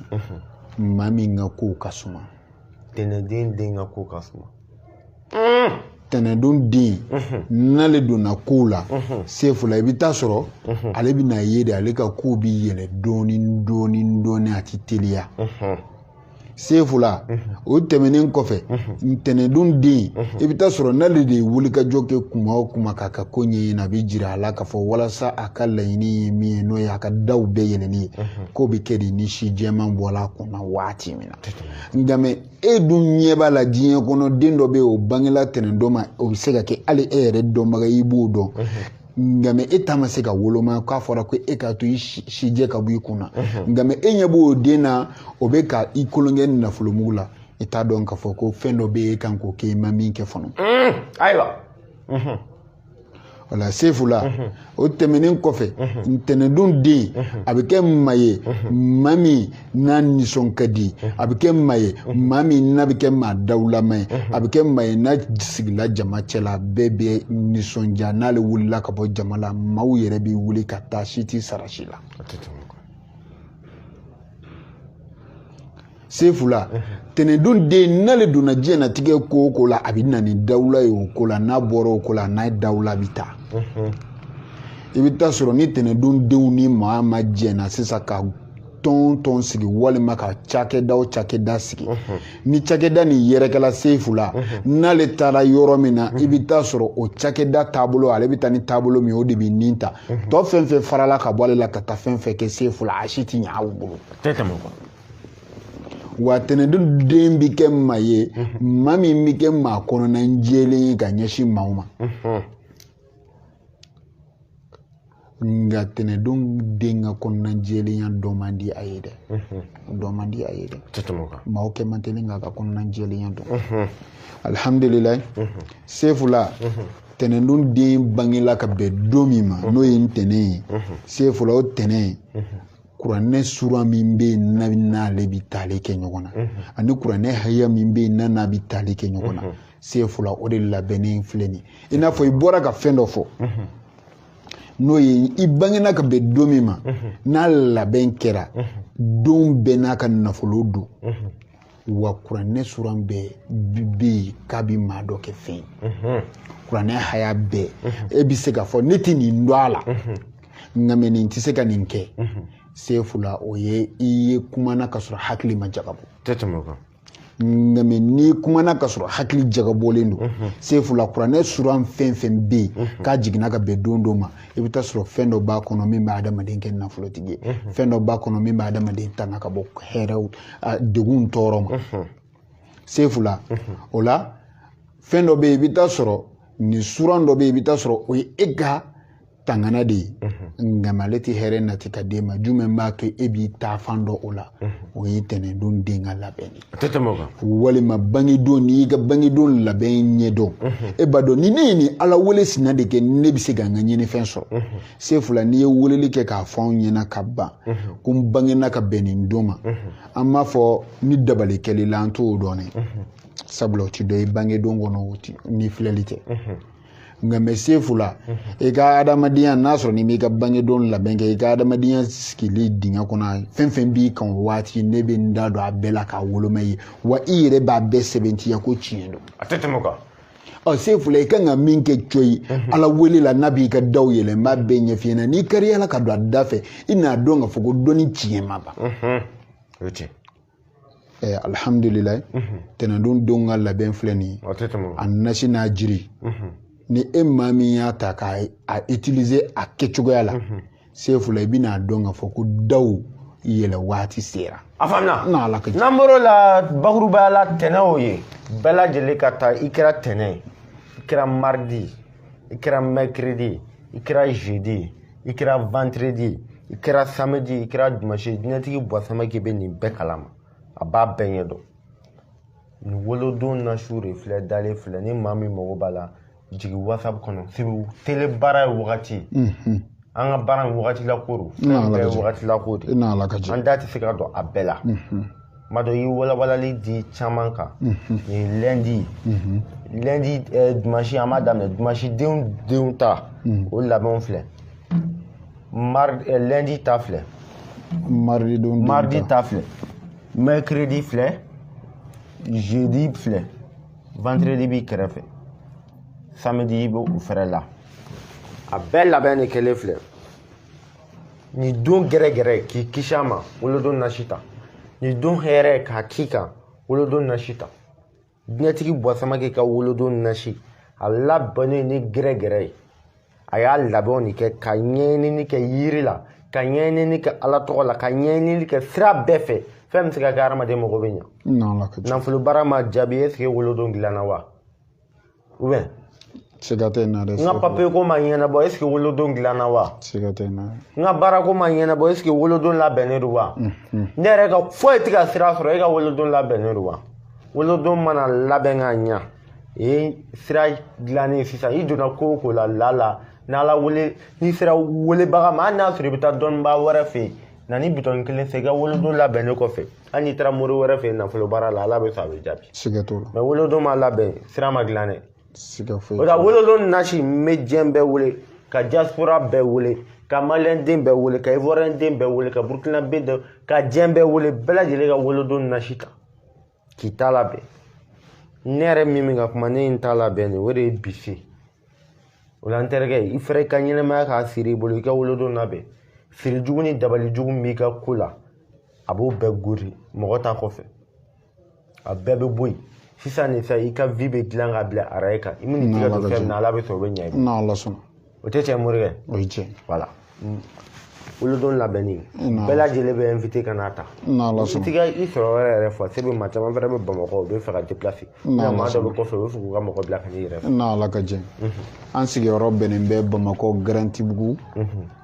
maa min ka kow ka suma tɛnɛndon den ka kow ka suma tɛnɛndon den n'ale donna kow la sefu la i bɛ taa sɔrɔ ale bɛna ye de ale ka kow bɛ yɛlɛ dɔɔnin dɔɔnin dɔɔnin a tɛ teliya sefu la o tɛmɛnen kɔfɛ ntɛnɛndon den i bɛ taa sɔrɔ n'ale de ye wulikajɔ kɛ kuma o kuma k'a ka ko ɲɛɲini a bɛ jira a la k'a fɔ walasa a ka laɲini ye min ye n'o ye a ka daw bɛɛ yɛlɛli ye k'o bɛ kɛ de ni si jɛman bɔla a kunna waati min na nka mɛ e dun ɲɛ b'a la diɲɛ kɔnɔ den dɔ bɛ yen o bangela tɛnɛndon ma o bɛ se ka kɛ hali e yɛrɛ dɔnbaga i b'o dɔn nka mɛ e ta ma se ka woloma k'a fɔra ko e k'a to i sijɛ ka bɔ i kun na nka mɛ e ɲɛ b'o den na o bɛ ka i kolonkɛ nafolomugu la i t'a dɔn k'a fɔ ko fɛn dɔ bɛ e kan k'o kɛ i ma min kɛ fɔlɔ ayiwa walayi sefu la mhm. o tɛmɛnen kɔfɛ mhm. ntɛnɛndon den mhm. a bɛ kɛ maa ye maa min n'a nisɔn ka di a bɛ kɛ maa ye maa min n'a bɛ kɛ maa dawulama ye a bɛ kɛ maa ye n'a sigila jama cɛla bɛɛ bɛ nisɔndiya n'ale wulila ka bɔ jama la maaw yɛrɛ bɛ wuli ka taa si tɛ sara si la sefu la tɛnɛndon den n'ale donna diɲɛnatigɛ ko o ko la a bɛ na ni dawula ye o ko la n'a bɔra o ko la n'a ye dawula bɛ taa i bɛ taa sɔrɔ ni tɛnɛndon denw ni maa ma jɛna sisan ka tɔn tɔn sigi walima ka cakɛda o cakɛda sigi ni cakɛda nin yɛrɛkɛla sefu la n'ale taara yɔrɔ min na i bɛ taa sɔrɔ o cakɛda taabolo ale bɛ taa ni taabolo min o de bɛ nin ta tɔ fɛn fɛn farala ka bɔ ale la ka taa fɛn fɛn kɛ sefu la a si tɛ ɲɛ aw bolo wa tɛnɛndon den bɛ kɛ maa ye maa min bɛ kɛ maa kɔnɔna jɛlen ye ka ɲɛsin maaw ma nka tɛnɛndon den ka kɔnɔna jɛlenya dɔn man di a ye dɛ dɔn man di a ye dɛ maaw kɛ man teli k'a ka kɔnɔna jɛlenya dɔn alihamdulilayi sefula tɛnɛndon den bangela ka bɛn don min ma n'o ye ntɛnɛn ye sefula o tɛnɛn kuranɛ sura min bɛ yen n'a n'ale bɛ tali kɛ ɲɔgɔn na ani kuranɛ haya min bɛ yen n'a n'a bɛ tali kɛ ɲɔgɔn na sefu la o de labɛnnen filɛ nin ye i n'a fɔ i bɔra ka fɛn dɔ fɔ n'o ye i bangena ka bɛn don min ma n'a labɛn kɛra don bɛɛ n'a ka nafolo don wa kuranɛ sura bɛɛ bɛ yen k'a bɛ maa dɔ kɛ fɛn ye mhm. kuranɛ haya bɛɛ mhm. e bɛ se k'a fɔ ne tɛ nin dɔn a la mhm. nka mɛ nin tɛ se ka nin kɛ sefu la o ye i ye kumana ka sɔrɔ hakili ma jagabɔ tɛ tɛmɛ o kan nka mɛ n'i kumana ka sɔrɔ hakili jagabɔlen don sefu la kuranɛ sura fɛn fɛn bɛ yen k'a jiginna ka bɛn don dɔ ma i bɛ taa sɔrɔ fɛn dɔ b'a kɔnɔ min bɛ adamaden kɛ nafolotigi ye mhm. fɛn dɔ b'a kɔnɔ min bɛ adamaden tanga ka bɔ ɛɛ degun tɔɔrɔ ma mhm. sefu la mhm. o la fɛn dɔ bɛ yen i bɛ taa sɔrɔ nin sura dɔ bɛ yen i bɛ taa sɔrɔ o ye e ka tanganan de ye nka ale tɛ hɛrɛ nati ka d'e ma jumɛn b'a kɛ e b'i taafan dɔn o la o ye tɛnɛndon den ka labɛn de ye a tɛ tɛmɛ o kan walima bangedon n'i y'i ka bangedon labɛn ɲɛdɔn e b'a dɔn ni ne ye nin ala wele sina de kɛ ne bɛ se ka n ka ɲinifɛn sɔrɔ sefula n'i ye weleli kɛ k'a fɔ anw ɲɛna ka ban ko n bangena ka bɛn nin don ma an b'a fɔ ni dabali kɛli la an t'o dɔn dɛ sabula o ti dɔ i bangedon kɔnɔ ni filɛli tɛ nka mɛ sefula i ka adamadenya n'a sɔrɔ n'i m'i ka bangedon labɛn kɛ i ka adamadenya sigili dingɛ kɔnɔ fɛn fɛn b'i kan o waati ne bɛ n da don a bɛɛ la k'a woloma ye wa i yɛrɛ b'a bɛɛ sɛbɛntiya ko tiɲɛ don a tɛ tɛmɛ kan ɔ sefula i kan ka min kɛ coyi ala wele la n'a b'i ka daw yɛlɛ n b'a bɛɛ ɲɛf'i ɲɛna n'i kari ala ka don a da fɛ i n'a dɔn k'a fɔ ko dɔnni tiɲɛ ma ban eh, alhamdulillah mhm. tɛnɛndon don ka labɛn filɛ nin a nasi n'a jiri mhm. ni e maa min y'a ta k'a utiliser a kɛcogoya la mhm. sefula i bɛna a dɔn k'a fɔ ko daw yɛlɛ waati sera a faamuna n'an bɔr'o la bakurubaya la tɛnɛ o ye bɛɛ lajɛlen ka taa i kɛra tɛnɛ ye i kɛra mardi i kɛra mercredi i kɛra jeudi i kɛra vendredi i kɛra samedi i kɛra dimanche diɲɛtigi bwa samake bɛ nin bɛɛ kalama a b'a bɛɛ ɲɛ dɔn nin wolodon nasiw de filɛ dalen filɛ ni maa min mago b'a la jigin whatsapp kɔnɔ sibu tele baara ye wagati mhm. an ka baara in wagati lako don fɛn bɛɛ ye wagati lako de an da tɛ se ka don a bɛɛ la mhm. kuma dɔ i ye walawalali di caman kan mhm. nin lundi mhm. lundi eh, dimanche an b'a daminɛ dimanche denw denw ta mhm. o labɛnw filɛ mari eh, lundi ta filɛ mardi don mardi ta filɛ mercredi filɛ jeudi filɛ vendredi b'i kɛrɛfɛ samedi bɛ u fɛrɛ la a bɛɛ labɛn de kɛlen filɛ nin don gɛrɛgɛrɛ k'i kisi a ma wolodon nasi ta nin don hɛrɛ k'a k'i kan wolodon nasi ta diɲɛtigi bwa samake ka wolodon nasi a labɛnnen ni gɛrɛgɛrɛ ye a y'a labɛnw de kɛ ka ɲɛɲinini kɛ yiri la ka ɲɛɲinini kɛ ala tɔgɔ la ka ɲɛɲinini kɛ sira bɛɛ fɛ fɛn bɛ se ka kɛ hadamaden mago bɛ ɲa nafolo baara ma jaabi est ce que wolodon dilanna wa ou bien siga tɛ na dɛ n ka papiye ko ma ɲɛnabɔ est ce que wolodon dilanna wa siga tɛ na n ka baara ko ma ɲɛnabɔ est ce que wolodon labɛnnen don wa ne yɛrɛ ka foyi tɛ ka sira sɔrɔ e ka wolodon labɛnnen don wa wolodon mana labɛn ka ɲa ye sira dilannen sisan i donna ko o ko la n'ala wele n'i sera welebaga ma hali n'a sɔrɔ i bɛ taa dɔnnibaa wɛrɛ fɛ yen na ni bitɔn kelen fɛ i ka wolodon labɛnnen kɔfɛ hali n'i taara mori wɛrɛ fɛ yen nafolo baara la ala bɛ sɔn a bɛ jaabi siga t'o la mais wolodon ma labɛn sira ma dilan dɛ siga foyi o la wolodon nasi n bɛ diɲɛ bɛɛ wele ka diaspora bɛɛ wele ka maliyɛn den bɛɛ wele ka ivoiriyɛn den bɛɛ wele ka burukinabɛ den ka diɲɛ bɛɛ wele bɛɛ lajɛlen ka wolodon nasi ta k'i ta labɛn ne yɛrɛ min bɛ ka kuma ne ye n ta labɛn de o de ye bi se o la n terikɛ i fɛrɛ i ka ɲɛnɛmaya k'a siri i bolo i ka wolodon labɛn siri jugu ni dabali jugu min b'i ka ko la a b'o bɛɛ gori mɔgɔ ta kɔfɛ a bɛɛ bɛ bɔ yen sisan nin fɛn i ka vie bɛ dilan ka bila araye kan i man'i tigɛ don fɛn min na ala bɛ sɔn o bɛ ɲɛ i ma n'ala sɔnna o tɛ tiɲɛ morikɛ o ye tiɲɛ voilà wolodon labɛnni bɛɛ lajɛlen bɛ invité ka n'a ta n'ala sɔnna i tɛ ka i sɔrɔyɔrɔ yɛrɛ fɔ se bɛ maa caman fɛnɛ bɛ bamakɔ u bɛ fɛ ka déplacer nka maa dɔ bɛ kɔfɛ u bɛ fɛ k'u ka mɔgɔ bila ka n'i yɛrɛ fɛ n'ala ka jɛ an sigiyɔrɔ bɛnnen bɛ bamakɔ garantibugu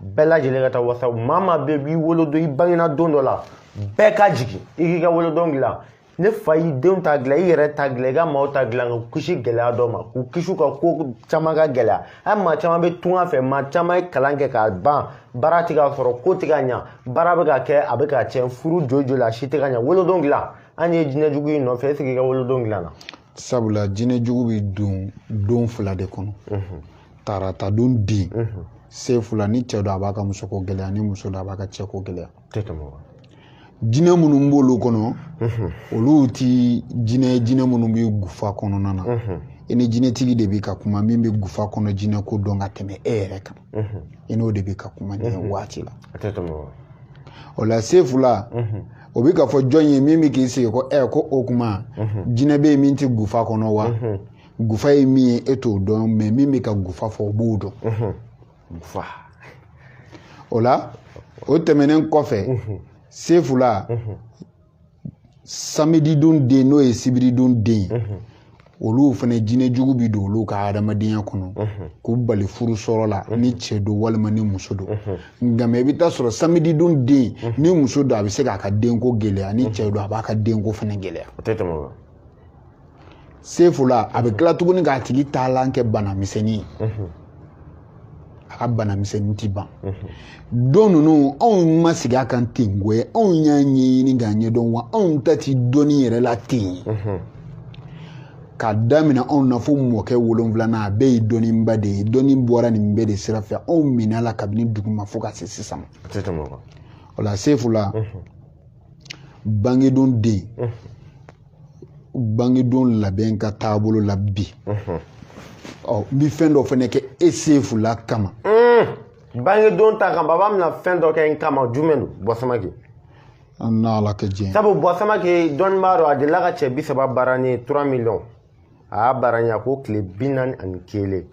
bɛɛ lajɛlen ka taa whatsapp maa maa bɛɛ b'i wolodon i bangena don dɔ la bɛɛ ka jigin i k'i ka wolodon dilan ne fa y'i denw ta dilan i yɛrɛ ta dilan i ka maaw ta dilan ka kisi gɛlɛya dɔ ma k'u kisi ka ko caman ka gɛlɛya hali maa caman bɛ tunga fɛ maa caman ye kalan kɛ k'a ban baara tɛ ka sɔrɔ ko tɛ ka ɲa baara bɛ ka kɛ a bɛ ka tiɲɛ furu joli joli a si tɛ ka ɲa wolodon dilan an ye jinɛ jugu in nɔfɛ est-ce que i ka wolodon dilanna sabula jinɛ jugu bɛ don don fila de kɔnɔ tarata don den sefula ni cɛ don a b'a ka musoko gɛlɛya ni muso don a b'a ka cɛko gɛlɛya jinɛ minnu b'olu kɔnɔ olu ti jinɛ jinɛ minnu bɛ gufa kɔnɔna na i ni jinɛtigi de bɛ ka kuma min bɛ gufa kɔnɔ jinɛko dɔn ka tɛmɛ e yɛrɛ kan i n'o de bɛ ka kuma nin waati la o la sefula o bɛ ka fɔ jɔn ye min bɛ k'i sigi ko ɛ ko o kuma jinɛ bɛ yen min tɛ gufa kɔnɔ wa gufa ye min ye e t'o dɔn mais min bɛ ka gufa fɔ o b'o dɔn gufa o la o tɛmɛnen kɔfɛ sefula samididon den n'o ye sibiridon den ye mhm. olu fana jinɛ jugu bɛ don olu ka hadamadenya kɔnɔ mhm. k'u bali furu sɔrɔ la mhm. ni cɛ don walima ni muso don nka mais i bɛ taa sɔrɔ samididon den ni muso don a bɛ se k'a ka denko gɛlɛya ni cɛ don a b'a ka denko fana gɛlɛya sefula a bɛ tila tuguni k'a tigi taalan kɛ bana misɛnnin ye a ka bana misɛnnin ti ban don ninnu anw ma sigi a kan ten koyi anw y'a ɲɛɲini k'a ɲɛdɔn wa anw ta ti dɔnni yɛrɛ la ten k'a daminɛ anw na fo mɔkɛ wolonfilanan a bɛɛ ye dɔnniba de ye dɔnni bɔra nin bɛɛ de sira fɛ anw minɛ la kabini duguma fo ka se sisan o la sefula bangedon den bangedon labɛn ka taabolo la bi ɔ n bɛ fɛn dɔ fana kɛ e sefula kama bangedon ta kan baba bɛna fɛn dɔ kɛ n kama jumɛn don bɔ samakɛ n'ala ka diɲɛ sabu bɔ samakɛ dɔnnibaa don a delila ka cɛ bi saba baara ni trois millions a y'a baara ɲɛ a ko tile bi naani ani kelen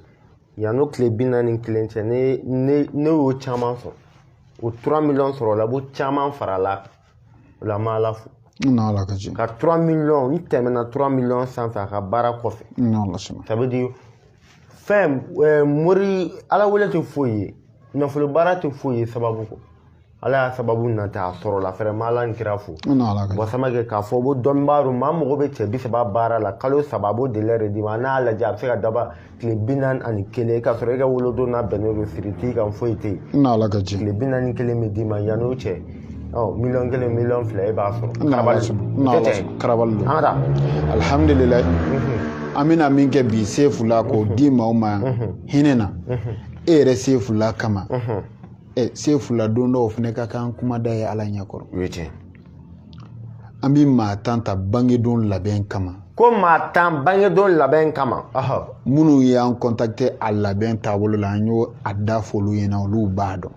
yanni o tile bi naani ni kelen cɛ ne ne ne y'o caman sɔrɔ o trois millions sɔrɔla a b'o caman farala o la an b'ala fo n'ala ka diɲɛ ka trois millions n tɛmɛna trois millions sanfɛ a ka baara kɔfɛ n'ala sɔnna ça veut dire fɛn eh, mori ala wele tɛ foyi ye nafolo baara tɛ foyi ye sababu kɔ ala y'a sababu nata a sɔrɔla vraiment ala ni kira fo n'ala ka diɲɛ bɔ samakɛ k'a fɔ ko dɔnnibaa don maa mago bɛ cɛ bi saba baara la kalo saba a b'o délai de d'i ma n'a y'a lajɛ a bɛ se ka daba tile bi naani ani kelen k'a sɔrɔ e ka wolodon n'a bɛnnen don siri t'i kan foyi tɛ yen n'ala ka diɲɛ tile bi naani kelen bɛ d'i ma yan'o cɛ ɔ miliyɔn kelen miliyɔn fila e b'a sɔrɔ karabali don karabali don an ka taa alihamudulilayi mhm. an bɛna min kɛ bi sefula k'o mhm. di maaw ma yan mhm. hinɛ na e yɛrɛ sefula kama ɛ sefula don dɔw fana ka kan kuma da ye ala ɲɛkɔrɔ o ye tiɲɛ an bɛ maa tan ta bangedon labɛn kama ko maa tan bangedon labɛn kama minnu y'an contacter a labɛn taabolo la an y'a da f'olu ɲɛna olu b'a dɔn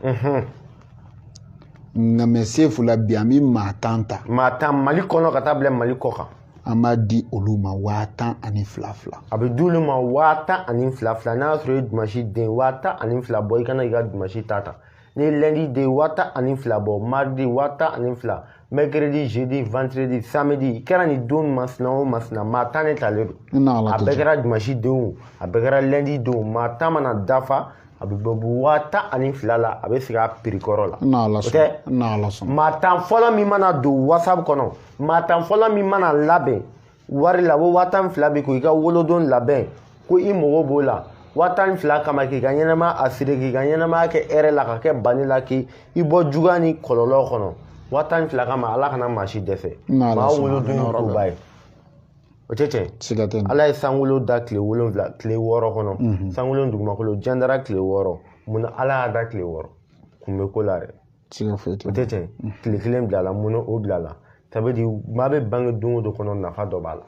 nka mais sefula bi an bɛ maa tan ta maa tan mali kɔnɔ ka taa bila mali kɔ kan an b'a di olu ma waa tan ani fila fila a bɛ di olu ma waa tan ani fila fila n'a y'a sɔrɔ i ye dimansi den waa tan ani fila bɔ i ka na i ka dimansi ta ta n'i ye lundi den waa tan ani fila bɔ mardi waa tan ani fila mercredi jeudi vendredi samedi i kɛra nin don masina o masina maa tan ne talen don a bɛɛ kɛra dimansi denw a bɛɛ kɛra lundi denw maa tan mana dafa a bɛ bɔ bu waa tan ani fila la a bɛ sigi a prix kɔrɔ la o tɛ maa tan fɔlɔ min mana don whatsapp kɔnɔ maa tan fɔlɔ min mana labɛn wari la ko waa tan fila bɛ ko i ka wolodon labɛn ko i mago b'o la waa tan fila kama k'i ka ɲɛnamaya assurer k'i ka ɲɛnamaya kɛ hɛrɛ la ka kɛ bani la k'i bɔ juguya ni kɔlɔlɔ kɔnɔ waa tan fila kama ala kana maa si dɛsɛ maa wolodon ye koba ye o tɛ tiɲɛ siga tɛ ala ye sankolo da tile wolonwula tile wɔɔrɔ kɔnɔ mhm. sankolo dugumakolo jandara tile wɔɔrɔ mun na ala y'a da tile wɔɔrɔ kun bɛ ko la dɛ ti ka foyi o tɛ tiɲɛ tile kelen bilala mun o bilala ça veut dire maa bɛ bange don o don kɔnɔ nafa dɔ b'a la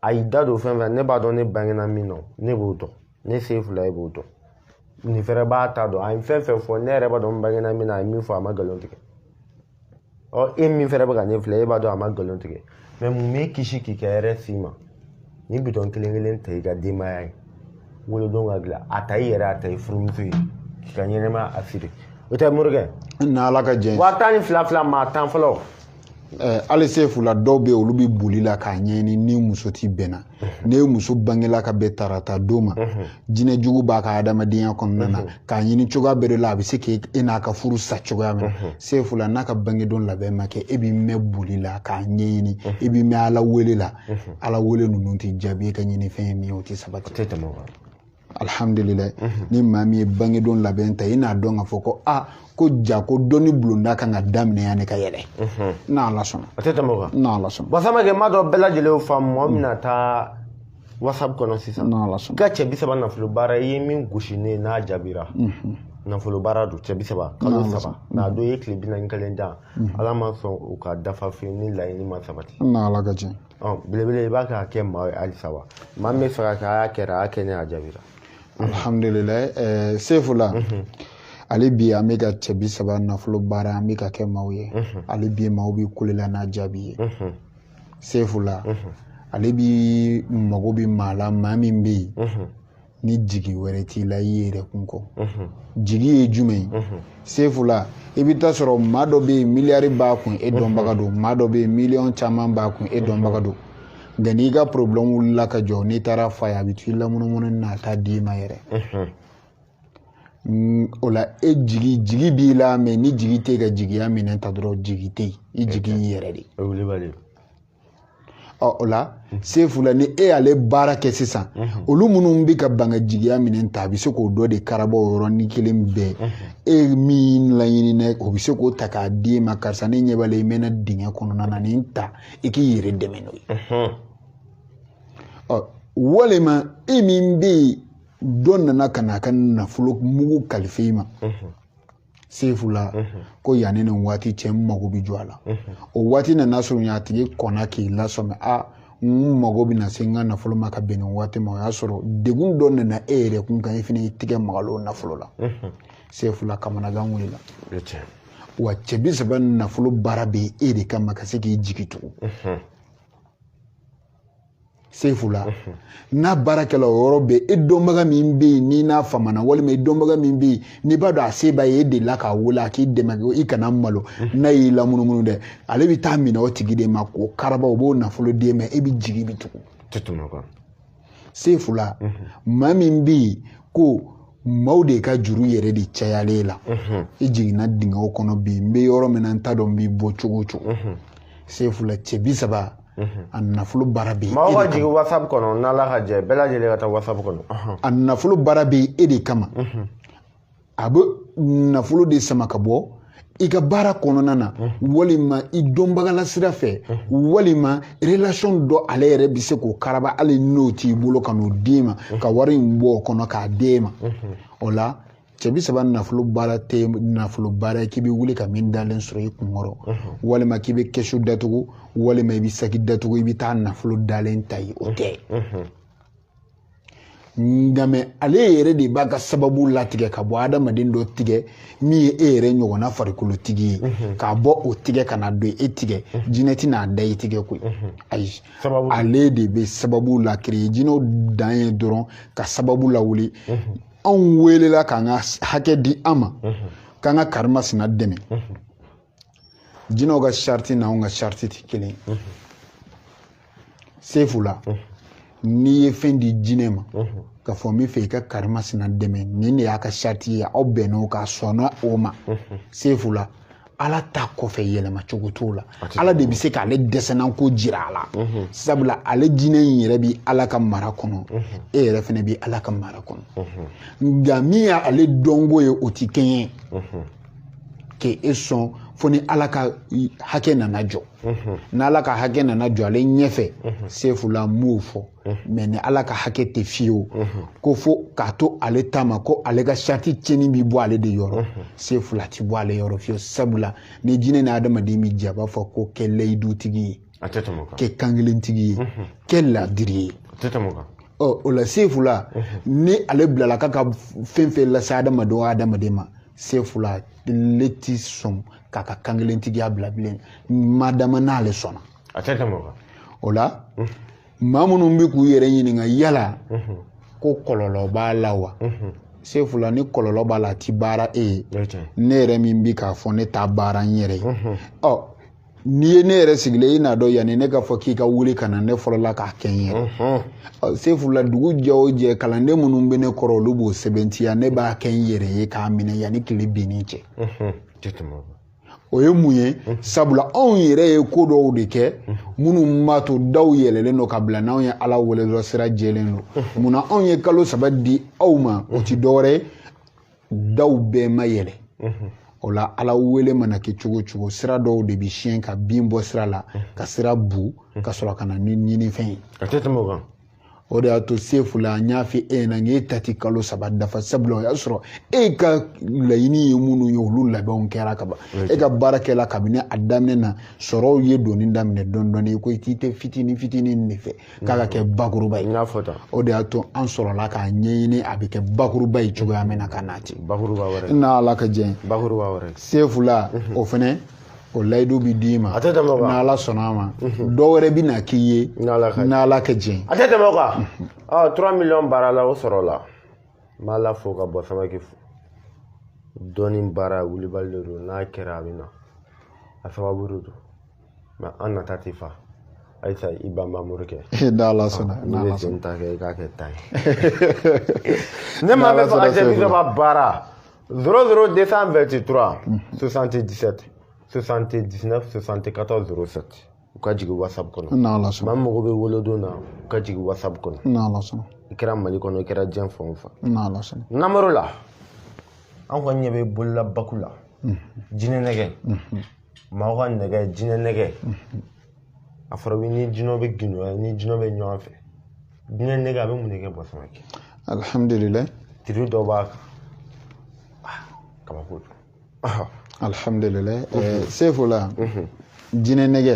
a y'i da don fɛn fɛn ne b'a dɔn ne bangena min na ne b'o dɔn ne sefula e b'o dɔn nin fɛnɛ b'a ta dɔn a ye fɛn fɛn fɔ ne yɛrɛ b'a dɔn n bangena min na a ye min fɔ a ma nkalon tigɛ ɔ e min fɛnɛ bɛ ka ne filɛ e b'a dɔn a ma nkalon tigɛ mɛ mun b'e kisi k'i ka hɛrɛ s'i ma ni bidɔn kelen kelen ta i ka denbaya ye wolodon ka dilan a ta i yɛrɛ a ta i furumuso ye k'i ka ɲɛnɛmaya assurer o tɛ morikɛ ni ala ka tiɲɛ waa tan ni fila fila maa tan fɔlɔ hali sefula dɔw bɛ yen olu bɛ boli la k'a ɲɛɲini ni muso tɛ bɛn na ni e muso bangela ka bɛn tarata don ma jinɛ jugu b'a ka adamadenya kɔnɔna na k'a ɲini cogoya bɛɛ de la a bɛ se ka e n'a ka furu sa cogoya min na sefula n'a ka bangedon labɛn ma kɛ e bɛ mɛn boli la k'a ɲɛɲini e bɛ mɛn ala wele la ala wele ninnu tɛ jaabi e ka ɲinifɛn ye min ye o tɛ sabati alhamdulilayi mhm. ni maa min ye bangedon labɛn ta i n'a dɔn k'a fɔ ko a ko ja ko dɔnni bulonda kan ka daminɛ yanni ka yɛlɛ mhm. n'ala sɔnna a tɛ tɛmɛ o kan n'ala sɔnna basamakɛ m'a dɔn bɛɛ lajɛlen y'o faamu mɔgɔ min na taa whatsapp kɔnɔ sisan n'ala sɔnna ka cɛ bi saba nafolo baara i ye min gosi ne ye n'a jaabira mhm. nafolo baara don cɛ bi saba kalo saba n'a don i ye tile bi naani ni kelen dan ala ma sɔn o ka dafa fiyewu ni laɲini ma sabati n'ala ka tiɲɛ ɔ belebele i b'a kɛ a kɛ maa ye halisa wa maa min b'a fɛ k'a kɛ a y'a kɛra a y'a kɛ ne y'a jaabira alhamdulilayi ɛɛ sefula hali bi an bɛ ka cɛ bi saba nafolo baara an bɛ k'a kɛ maaw ye hali bi maaw bɛ kule la n'a jaabi ye sefula hali bi mago bɛ maa la maa min bɛ yen ni jigi wɛrɛ t'i la i yɛrɛ kun kɔ jigi ye jumɛn ye sefula i bɛ taa sɔrɔ maa dɔ bɛ yen miliyari b'a kun e dɔnbaga don maa dɔ bɛ yen miliyɔn caman b'a kun e dɔnbaga don nka n'i ka porobilɛmu wulila ka jɔ n'i taara f'a ye a bɛ t'i lamunumunu na a t'a d'i ma yɛrɛ o la e jigi jigi b'i la mɛ ni jigi tɛ ka jigiya minɛn ta dɔrɔn jigi tɛ yen i jigi y'i yɛrɛ de ye o la sefula ni e y'ale baara kɛ sisan olu minnu bɛ ka ban ka jigiya minɛn ta a bɛ se k'o dɔ de karaba o yɔrɔnin kelen bɛɛ e min laɲinina o bɛ se k'o ta k'a di e ma karisa ne ɲɛ b'a la i mɛna dingɛ kɔnɔna na nin ta i k'i yɛrɛ dɛmɛ n'o ye ɔ walima e min bɛ yen dɔ nana ka na a ka nafolo mugu kalifa i ma sefula ko yanni nin waati cɛ n mago bɛ jɔ a la o waati nana surunya a tigi kɔnna k'i lasɔmi a n mago bɛ na se n ka nafolo ma ka bɛn nin waati ma o y'a sɔrɔ degun dɔ nana e yɛrɛ kun kan i fana y'i tigɛ maga o nafolo la sefula kamanagan wulila wa cɛ bi saba nafolo baara bɛ e de kama ka se k'i jigi tugu sefula n'a baarakɛla o yɔrɔ bɛ e dɔnbaga min bɛ yen n'i n'a famana walima i dɔnbaga min bɛ yen n'i b'a dɔn a se b'a ye e delila k'a wele a k'i dɛmɛ ko i kana malo n'a y'i lamunumunu dɛ ale bɛ taa minɛ o tigi de ma k'o karaba o b'o nafolo d'e ma e bɛ jigi bi tugun sefula maa min bɛ yen ko maaw de ka juru yɛrɛ de cayalen la i jiginna dingɛw kɔnɔ bi n bɛ yɔrɔ min na n t'a dɔn n b'i bɔ cogo o cogo sefula cɛ bi saba a nafolo baara bɛ maa ka jigin wasapu kɔnɔ n'ala ka jɛ bɛɛ lajɛlen ka taa wasapu kɔnɔ a nafolo baara bɛ e de kama a bɛ nafolo de sama ka bɔ i ka baara kɔnɔna na walima i dɔnbagala sira fɛ walima relation dɔ ale yɛrɛ bɛ se k'o karaba hali n'o t'i bolo ka n'o d'e ma ka wari in bɔ o kɔnɔ k'a d'e ma o la cɛ bi saba nafolo baara tɛ nafolo baara ye k'i bɛ wuli ka min dalen sɔrɔ i kun kɔrɔ walima k'i bɛ kɛsu datugu walima i bɛ saki datugu i bɛ taa nafolo dalen ta ye o tɛ nka mɛ ale yɛrɛ de b'a ka sababu latigɛ ka bɔ adamaden dɔ tigɛ min ye e yɛrɛ ɲɔgɔnna farikolotigi ye mhm. k'a bɔ o tigɛ ka na don e tigɛ mhm. jinɛ tɛ n'a da i tigɛ koyi mhm. ayi ale de bɛ sababu la créer jinɛw dan ye dɔrɔn ka sababu lawuli anw weelela k'an ka hakɛ di an ma k'an ka karimasina dɛmɛ jinɛw ka sariti n'anw ka sariti tɛ kelen ye sefula n'i ye fɛn di jinɛ ma k'a fɔ n bɛ fɛ i ka karimasina dɛmɛ nin de y'a ka sariti ye aw bɛnn'o kan a sɔnna o ma sefula ala ta kɔfɛ yɛlɛma cogo t'o la ala de bɛ se k'ale dɛsɛnanko jira a la mhm. sabula ale jinɛ in yɛrɛ bɛ ala ka mara kɔnɔ mhm. e yɛrɛ fana bɛ ala ka mara kɔnɔ mhm. nka min y'ale dɔnko ye o ti kɛɲɛ k'e sɔn fo ni ala ka hakɛ nana jɔ n'ala ka hakɛ nana jɔ ale ɲɛfɛ sefula n m'o fɔ mɛ ni ala ka hakɛ tɛ fiyewu ko fo k'a to ale ta ma ko ale ka sariti tiɲɛni bɛ bɔ ale de yɔrɔ sefula a ti bɔ ale yɔrɔ fiyewu sabula ni jinɛ ni adamaden bɛ jɛ a b'a fɔ ko kɛ layidutigi ye kɛ kankelentigi ye kɛ ladiri ye ɔ o la sefula ni ale bilala k'a ka fɛn fɛn lase adamaden o adamaden ma sefula ale ti sɔn k'a ka kankelentigiya bila bilen madama n'ale sɔnna a tɛ tɛmɛ o kan o la maa minnu bɛ k'u yɛrɛ ɲininka yala ko kɔlɔlɔ b'a la wa sefula ni kɔlɔlɔ b'a la a ti baara e ye ne yɛrɛ min bi k'a fɔ ne t'a baara n yɛrɛ ye ɔ n'i ye ne yɛrɛ sigilen i n'a dɔn yanni ne k'a fɔ k'i ka wuli ka na ne fɔlɔla k'a kɛ n yɛrɛ sefula dugu jɛ o jɛ kalanden minnu bɛ ne kɔrɔ olu b'o sɛbɛntiya ne b'a kɛ n yɛrɛ ye k'a minɛ yanni tile binni cɛ o ye mun ye sabula anw yɛrɛ ye ko dɔw de kɛ minnu b'a to daw yɛlɛlen don ka bila n'anw ye ala wele dɔrɔn sira jɛlen don munna anw ye kalo saba di aw ma o ti dɔwɛrɛ ye daw bɛɛ ma yɛlɛ o la ala wele mana kɛ cogo cogo sira dɔw de bi siɲɛ ka bin bɔ sira la ka sira bu ka sɔrɔ ka na ni ɲinifɛn ye a tɛ tɛmɛ o kan o de y'a to sefula n y'a fɔ e ɲɛna n k'e ta ti kalo saba dafa sabula o y'a sɔrɔ e ka laɲini ye minnu ye olu labɛnw kɛra ka ban e ka baara kɛla kabini a daminɛ na sɔrɔw ye donni daminɛ dɔɔni dɔɔni i ko i tɛ fitini fitini de fɛ k'a ka kɛ bakuruba ye o de y'a to an sɔrɔla k'a ɲɛɲini a bɛ kɛ bakuruba ye cogoya min na ka n'a ten bakuruba wɛrɛ n'ala ka jɛn bakuruba wɛrɛ sefula o fɛnɛ o layidu bɛ d'i ma a tɛ tɛmɛ o kan n'ala sɔnna a ma mhm. dɔ wɛrɛ bɛ na k'i ye n'ala ka jɛn a tɛ tɛmɛ o kan mhm. ɔ trois millions baara la o sɔrɔ la n b'ala fo ka bɔ samake fo dɔɔni baara wulibali de don n'a kɛra a bɛ na a sababu de don mɛ an nata tɛ fa ayisa i banban morikɛ n'ala sɔnna n'i bɛ sen ta kɛ i k'a kɛ ta ye ne maa bɛ fɛ ka jaabi dɔ ka baara 00 223 77 79 74 07 u ka jigin whatsapp kɔnɔ maa min mago bɛ wolodon na u ka jigin whatsapp kɔnɔ i kɛra mali kɔnɔ i kɛra diɲɛ fan o fan namaro la an kɔni ɲɛ bɛ bolola baku la jinɛ nɛgɛ maaw ka nɛgɛ jinɛ nɛgɛ a fɔra ni jinɛ bɛ gindo ni jinɛ bɛ ɲɔgɔn fɛ jinɛ nɛgɛ a bɛ mun de kɛ bɔ samake alihamdulilayi tiri dɔ b'a kan ah, kabako don ah. alihamdulilayi eh, sefula jinɛ nɛgɛ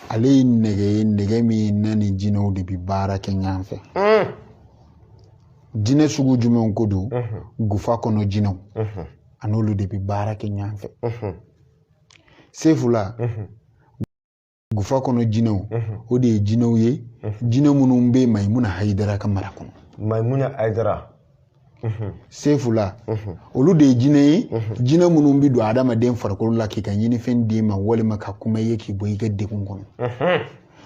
ale ye nɛgɛ ye nɛgɛ min n'a ni jinɛw de bɛ baara kɛ ɲɔgɔn fɛ hmm. jinɛ sugu jumɛnw ko don gufa kɔnɔ jinɛw a n'olu de bɛ baara kɛ ɲɔgɔn fɛ sefula gufa kɔnɔ jinɛw mhm. o de ye jinɛw ye mhm. jinɛ minnu bɛ mayimuna hayidara ka mara kɔnɔ mayimuna hayidara mhm. sefula olu de ye jinɛ ye jinɛ minnu bɛ don adamaden farikolo la k'i ka ɲinifɛn d'i ma walima ka kuma ye k'i bɔ i ka degun kɔnɔ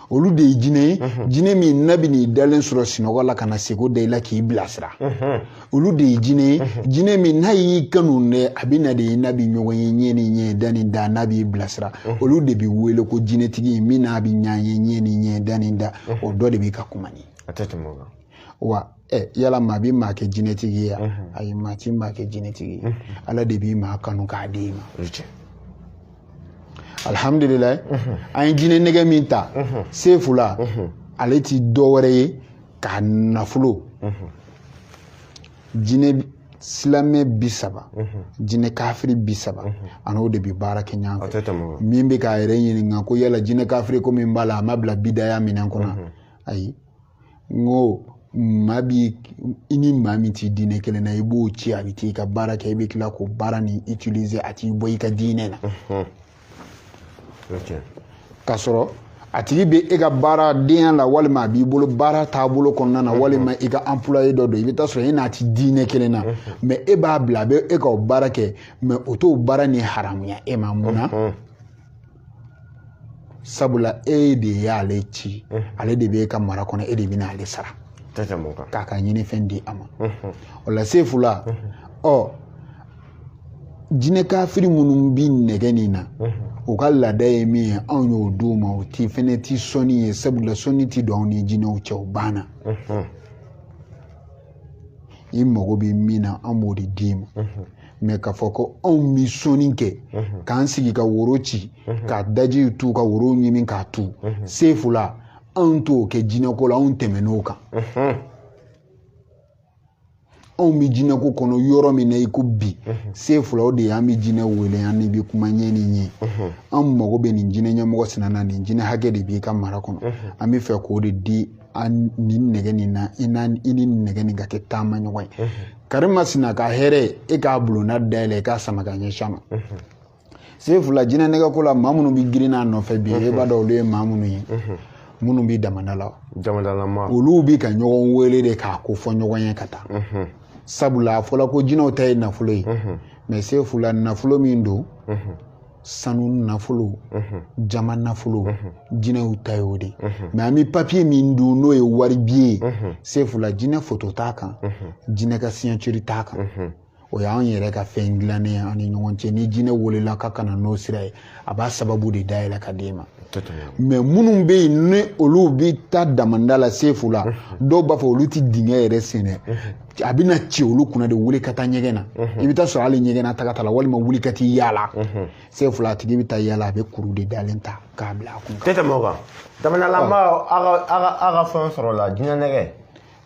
olu de ye jinɛ ye jinɛ min n'a bɛ n'i dalen sɔrɔ sinɔgɔ la ka na sugo da i la k'i bilasira olu de ye jinɛ ye jinɛ min n'a y'i kanu dɛ a bɛ na de i n'a bɛ ɲɔgɔn ye ɲɛ ni ɲɛ da ni da n'a b'i bilasira olu de bɛ wele ko jinɛtigi min n'a bɛ ɲɛ ye ɲɛ ni ɲɛ da ni da o dɔ de bɛ ka kuma nin a tɛ tɛmɛ o kan wa ɛ yala maa bɛ maa kɛ jinɛtigi ye yan ayi maa ti maa kɛ jinɛtigi ye ala de bi maa kanu k'a di i ma alihamdulilayi an ye jinɛ nɛgɛ min ta sefula ale ti dɔ wɛrɛ ye k'a nafolo jinɛ silamɛ bi saba jinɛ kafiri bi saba an'o de bi baara kɛ ɲɔgɔn fɛ min bɛ k'a yɛrɛ ɲininka ko yala jinɛ kafiri ko min b'a la a ma bila bidaya minɛn kɔnɔ ayi n ko maa bi i ni maa min t'i diinɛ kelen na i b'o ci a bɛ t'i ka baara kɛ i bɛ tila k'o baara ni utiliser a t'i bɔ i ka diinɛ na ka sɔrɔ a tigi bɛ e ka baaradenya la walima a b'i bolo baara taabolo kɔnɔna na walima i ka employé dɔ don i bɛ taa sɔrɔ e n'a ti diinɛ kelen na mais e b'a bila a bɛ e ka o baara kɛ mais o t'o baara ni haramuya e ma mun na sabula e de y'ale ci ale de bɛ e ka mara kɔnɔ e de bɛna ale sara k'a ka ɲinifɛn di a ma o la sefula ɔ jinɛ kafiri minnu bi nɛgɛ nin na u ka laada ye min ye anw y'o d'u ma o ti fɛnɛ ti sɔnni ye sabula sɔnni ti don anw ni jinɛw cɛ o banna i mago bɛ min na an b'o de d'i ma mais k'a fɔ ko anw bɛ sɔnni kɛ k'an sigi ka woro ci ka daji tu ka woro ɲimi k'a tu sefula anw t'o kɛ jinɛko la anw tɛmɛn'o kan anw bɛ jinɛko kɔnɔ yɔrɔ min na i ko bi mhm. sefula o de ye an bɛ jinɛ wele an n'i bi kuma ɲɛ ni ɲɛ mhm. an mago bɛ nin jinɛ ɲɛmɔgɔ sinana nin jinɛ hakɛ de b'i ka mara kɔnɔ mhm. an bɛ fɛ k'o de di nin nɛgɛ nin na i ni nɛgɛ nin ka kɛ taamaɲɔgɔn ye karimasina ka hɛrɛ e k'a bulonna dayɛlɛ e k'a sama ka ɲɛsin a ma sefula jinɛ nɛgɛ ko la maa minnu bɛ girin a nɔfɛ bi e b'a dɔn olu ye maa minnu ye minnu bɛ damanda la olu bɛ ka ɲɔgɔn wele de k'a ko fɔ ɲɔgɔn ye ka taa sabula a fɔla ko jinɛw ta ye nafolo ye mais sefula nafolo min don sanu nafolo jaman nafolo jinɛw ta ye o de mais an bɛ papiye min dun n'o ye wari biye ye sefula jinɛ foto t'a kan jinɛ ka signature t'a kan o y'an yɛrɛ ka fɛn dilannen ye an ni ɲɔgɔn cɛ ni jinɛ welela k'a ka na n'o sira ye a b'a sababu de dayɛlɛ ka d'e ma mais minnu bɛ yen ni olu bɛ taa damanda la sefula dɔw b'a fɔ olu tɛ dingɛ yɛrɛ sen dɛ a bɛna ci olu kunna de wuli ka taa ɲɛgɛn na i bɛ taa sɔrɔ hali ɲɛgɛn na taga la walima wuli ka t'i yaala sefula a tigi bɛ taa yaala a bɛ kuru de dalen ta k'a bila a kun tɛ tɛmɛ o kan damandalamaaw ka fɛn sɔrɔ la jinɛ nɛgɛ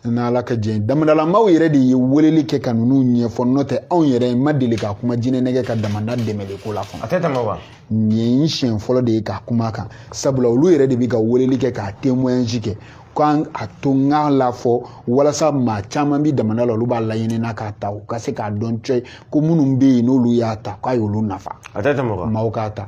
n'ala ka jɛn damandalamaaw yɛrɛ de ye weleli kɛ ka ninnu ɲɛfɔ n'o tɛ anw yɛrɛ ma deli ka kuma jinɛnɛgɛ ka damanda dɛmɛli ko la fana a tɛ tɛmɛ o kan nin ye siɲɛ fɔlɔ de ye ka kuma kan sabula olu yɛrɛ de bɛ ka weleli kɛ k'a témoignage kɛ k'an a to n k'a la fɔ walasa maa caman bi damanda la olu b'a laɲini na k'a ta u ka se k'a dɔn cɛ ko minnu bɛ yen n'olu y'a ta k'a y'olu nafa a tɛ tɛmɛ o kan maaw k'a ta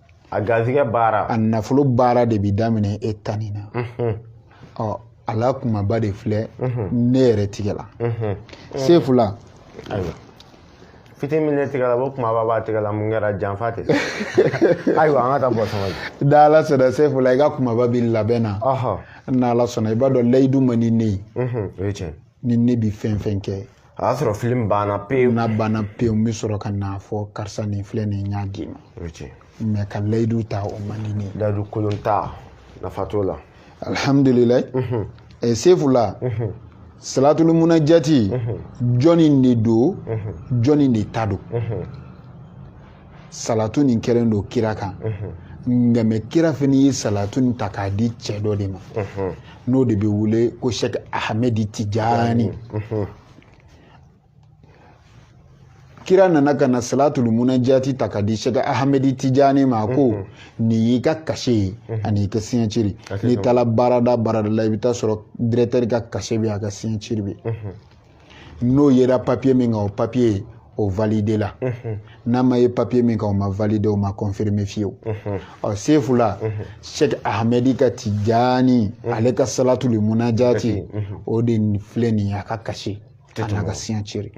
a garisɛgɛ baara a nafolo baara de bi daminɛ e tanni na mhm. ɔ a la kumaba de filɛ mhm. ne yɛrɛ tigɛ la mhm. sefu la ayiwa fitinin min ne tigɛ la o kumaba b'a tigɛ la mun kɛra janfa tɛ ayiwa an ka taa bɔ sɔngɔ la da ala sɔnna sefu la i ka kumaba bi labɛn na n'ala sɔnna i b'a dɔn layidu man di ne ye ni ne bi fɛn fɛn kɛ a y'a sɔrɔ filimu banna pewu n'a banna pewu n bɛ sɔrɔ ka n'a fɔ karisa nin filɛ nin n y'a d'i ma mais ka layidu ta o man di ne ye layidu kolon ta nafa t'o la alihamudulilayi mhm. eh, sefu la mhm. salatulu munajati mhm. jɔni de don jɔni de ta don salatu nin kɛlen don kira kan nka mais kira fana ye salatu nin ta k'a di cɛ dɔ de ma n'o de bɛ wele ko sɛk ahamɛdi tijani kira nana ka na salatul munajati ta k'a di sɛk ahamɛdi tijani ma ko nin y'i ka cachet ye ani i ka signature n'i taara baarada baarada la i bɛ taa sɔrɔ directeur ka cachet bɛ a ka signature bɛ n'o yera papier min kan o papier o validé la mhm. n'a ma ye papier min kan o ma validé o ma confirmé fiyewu mhm. ɔ sefu la mhm. cheikh ahmedi ka tijani ale ka salatul munajati o de filɛ nin ye a ka cachet a n'a ka signature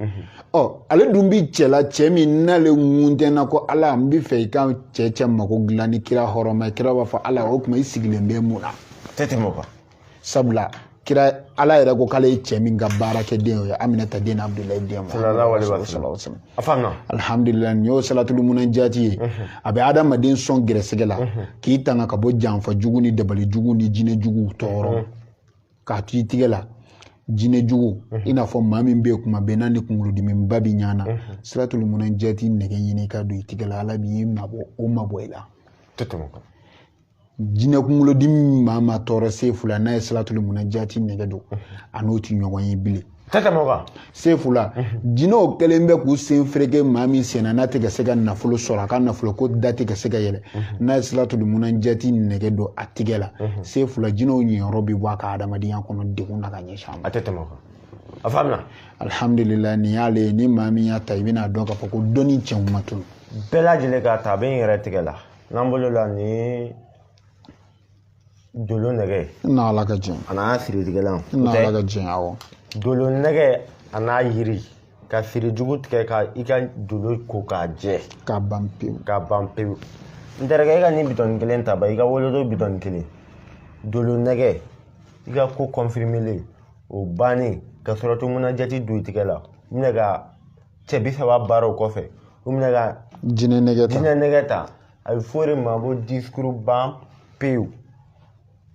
ɔ ale dun bi cɛla cɛ min n'ale ŋuntɛna ko ala n bi fɛ i ka cɛ cɛ mako dilan ni kira hɔrɔma ye kira b'a fɔ ala o tuma i sigilen bɛ mun na tɛ tɛmɛ o kan sabula kira ala yɛrɛ ko k'ale ye cɛ min ka baara kɛ den o ye aminata den abudulayi den alhamdulilayi nin y'o salatul munajati ye mhm. a bɛ adamaden sɔn gɛrɛsɛgɛ la mhm. k'i tanga ka bɔ janfa jugu ni dabali jugu ni jinɛ juguw tɔɔrɔ mhm. k'a to i tigɛ la jinɛ jugu i n'a fɔ maa min bɛ yen kuma bɛɛ n'a ni kunkolodimiba bi ɲa na salatul munajati nɛgɛ ɲini ka don i tigɛ la ala b'i mabɔ o mabɔ i la jinɛ kunkolodimi min maa ma tɔɔrɔ sefu la n'a ye salatul munajati nɛgɛ don a n'o ti ɲɔgɔn ye bilen tɛ tɛmɛ o kan sefu la jinɛw kɛlen bɛ k'u sen fereke maa min senna n'a tɛ ka se ka nafolo sɔrɔ a ka nafolo ko da tɛ ka se ka yɛlɛ n'a ye salatul munajati nɛgɛ don a tigɛ la sefu la jinɛw niyɔrɔ bɛ bɔ a ka adamadenya kɔnɔ degun na ka ɲɛsin a ma a tɛ tɛmɛ o kan a faamuna alhamdulillah nin y'ale ye ni maa min y'a ta i bɛna dɔn k'a fɔ ko dɔnni cɛw ma tunu bɛɛ lajɛlen k'a ta a bɛ n yɛrɛ tigɛ la n'an bolo la ni dolo nɛgɛ n'ala ka jɛn a n'a siritigɛlan n'ala ka jɛn awɔ dolo nɛgɛ a n'a yiri ka siri jugu tigɛ ka i ka dolo ko k'a jɛ k'a ban pewu k'a ban pewu n terikɛ i ka nin bitɔni kelen ta ba i ka wolodo bitɔni kelen dolo nɛgɛ i ka ko confirmélen o bannen ka salatu munajati don i tigɛ la minɛ ka cɛ bi saba baaraw kɔfɛ u minɛ ka jinɛ nɛgɛ ta jinɛ nɛgɛ ta a bɛ fɔ o de ma ko discours ban pewu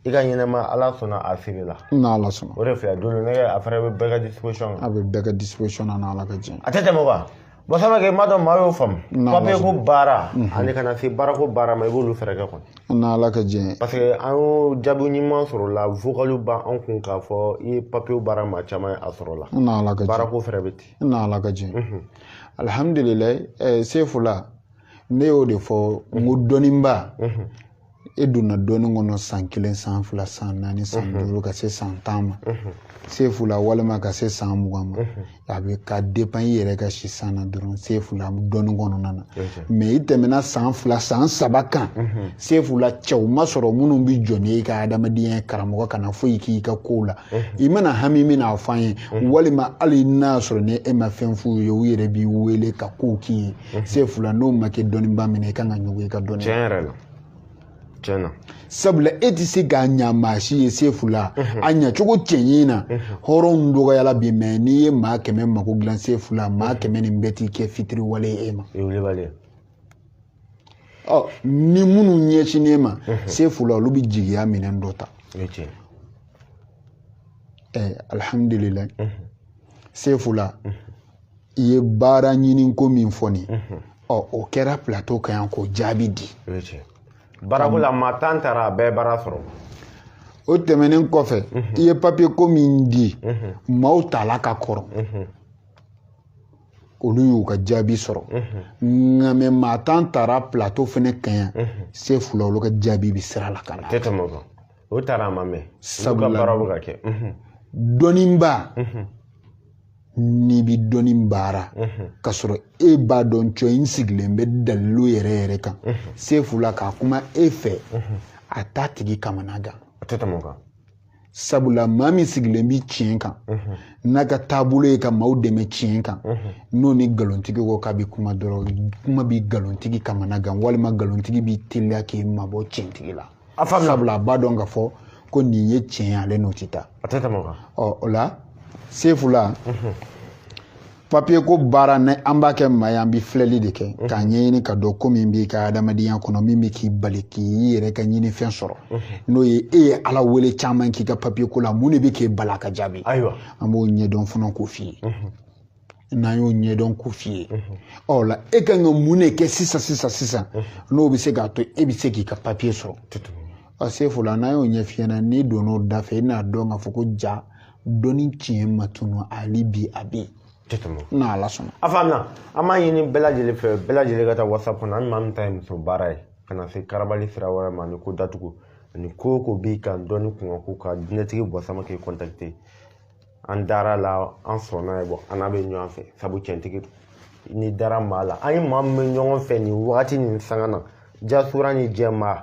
i ka ɲɛnɛma ala sɔnna a feere la n'ala sɔnna o de filɛ dolo nɛgɛ a fana bɛ bɛɛ ka disposition a bɛ bɛɛ ka disposition na n'ala ka jɛn a tɛ tɛmɛ o kan bɔn sama kɛ m'a dɔn maa y'o faamu papiye ko baara ani ka na se baara ko baara ma i b'olu fɛɛrɛ kɛ kɔni n'ala ka jɛn parce que an y'o jaabi ɲuman sɔrɔ la vocaliw b'an kun k'a fɔ i ye papiyew baara maa caman ye a sɔrɔ la n'ala ka jɛn baara ko fɛɛrɛ bɛ ten n'ala ka jɛn alhamdulilayi eh, sefula ne y'o de fɔ n ko dɔnniba e donna dɔnni kɔnɔ san kelen san fila san naani san mhm. duuru ka se san tan ma mhm. sefula walima ka se san mugan ma mhm. a bɛ ka dépend i yɛrɛ ka si san na dɔrɔn sefula dɔnni kɔnɔna na mɛ i tɛmɛna san fila san saba kan sefula cɛw ma sɔrɔ minnu bɛ jɔ n'i ka adamadenya karamɔgɔ kana foyi k'i ka kow la i mana hami min n'a fɔ an ye walima hali n'a sɔrɔ ni e ma fɛn f'u ye u yɛrɛ b'i wele ka kow k'i ye sefula n'o ma kɛ dɔnniba minɛ i kan ka ɲugu i ka dɔnni tiɲɛ yɛrɛ la tiɲɛ na sabula e tɛ se k'a ɲa maa si ye sefula a ɲacogo cɛɲi na hɔrɔnw dɔgɔyala bi mɛ n'i ye maa kɛmɛ mako dilan sefula maa kɛmɛ nin bɛɛ t'i kɛ fitiriwale ye e ma ni minnu ɲɛsinnen ma sefula olu bɛ jigiya minɛn dɔ ta alihamdulilayi sefula i ye baara ɲini ko min fɔ nin ɔ o kɛra plateau kan yan k'o jaabi di baarako la maa tan taara a bɛɛ baara sɔrɔ o tɛmɛnen kɔfɛ i ye papiye ko min di maaw tala ka kɔrɔ olu y'u ka jaabi sɔrɔ nka mɛ maa tan taara plateau fana kan yan sefula olu ka jaabi bɛ sira la ka na tɛ tɛmɛ o kan o taara a ma mɛn sabula baara bɛ ka kɛ dɔnniba n'i bɛ dɔnni baara ka sɔrɔ e b'a dɔn cɔ in sigilen bɛ dalilu yɛrɛ yɛrɛ kan sefula k'a kuma e fɛ a t'a tigi kamana gan a tɛ tɛmɛ o kan sabula maa min sigilen bɛ tiɲɛ kan n'a ka taabolo ye ka maaw dɛmɛ tiɲɛ kan n'o ni nkalontigi ko k'a bɛ kuma dɔrɔn kuma bɛ nkalontigi kamana gan walima nkalontigi bɛ teliya k'i mabɔ tiɲɛtigi la a fa sabula a b'a dɔn ka fɔ ko nin ye tiɲɛ ye ale n'o tɛ taa a tɛ tɛmɛ o kan ɔ o la sefula papiye ko baara ni an b'a kɛ maa ye an bɛ filɛli de kɛ k'a ɲɛɲini ka dɔn ko min b'i ka adamadenya kɔnɔ min bɛ k'i bali k'i yɛrɛ ka ɲinifɛn sɔrɔ n'o ye e ye ala wele caman k'i ka papiye ko la mun de bɛ k'e bali ka jaabi ayiwa an b'o ɲɛdɔn fana k'o f'i ye n'an y'o ɲɛdɔn k'o f'i ye ɔ la e ka kan ka mun de kɛ sisan sisan sisan n'o bɛ se k'a to e bɛ se k'i ka papiye sɔrɔ sefula n'an y'o ɲɛf'i ɲɛna n'i donn'o da fɛ i n'a dɔn k'a fɔ ko ja dɔnni tiɲɛ ma tunu hali bi a bɛ yen tɛ tɛmɛ o n'a ala sɔnna a faamuna an b'a ɲini bɛɛ lajɛlen fɛ bɛɛ lajɛlen ka taa whatsapp kɔnɔ hali maa min ta ye muso baara ye ka na se karabali sira wɛrɛ ma ni ko datugu ani ko o ko b'i kan dɔnni kunkan ko ka jinɛtigi bɔ samakɛ kɔntakite an dara la an sɔnna ye bɔ an n'a bɛ ɲɔgɔn fɛ sabu cɛntigi don ni dara maa la an ye maa min bɛ ɲɔgɔn fɛ nin wagati nin sanga na jasura ni jɛmaa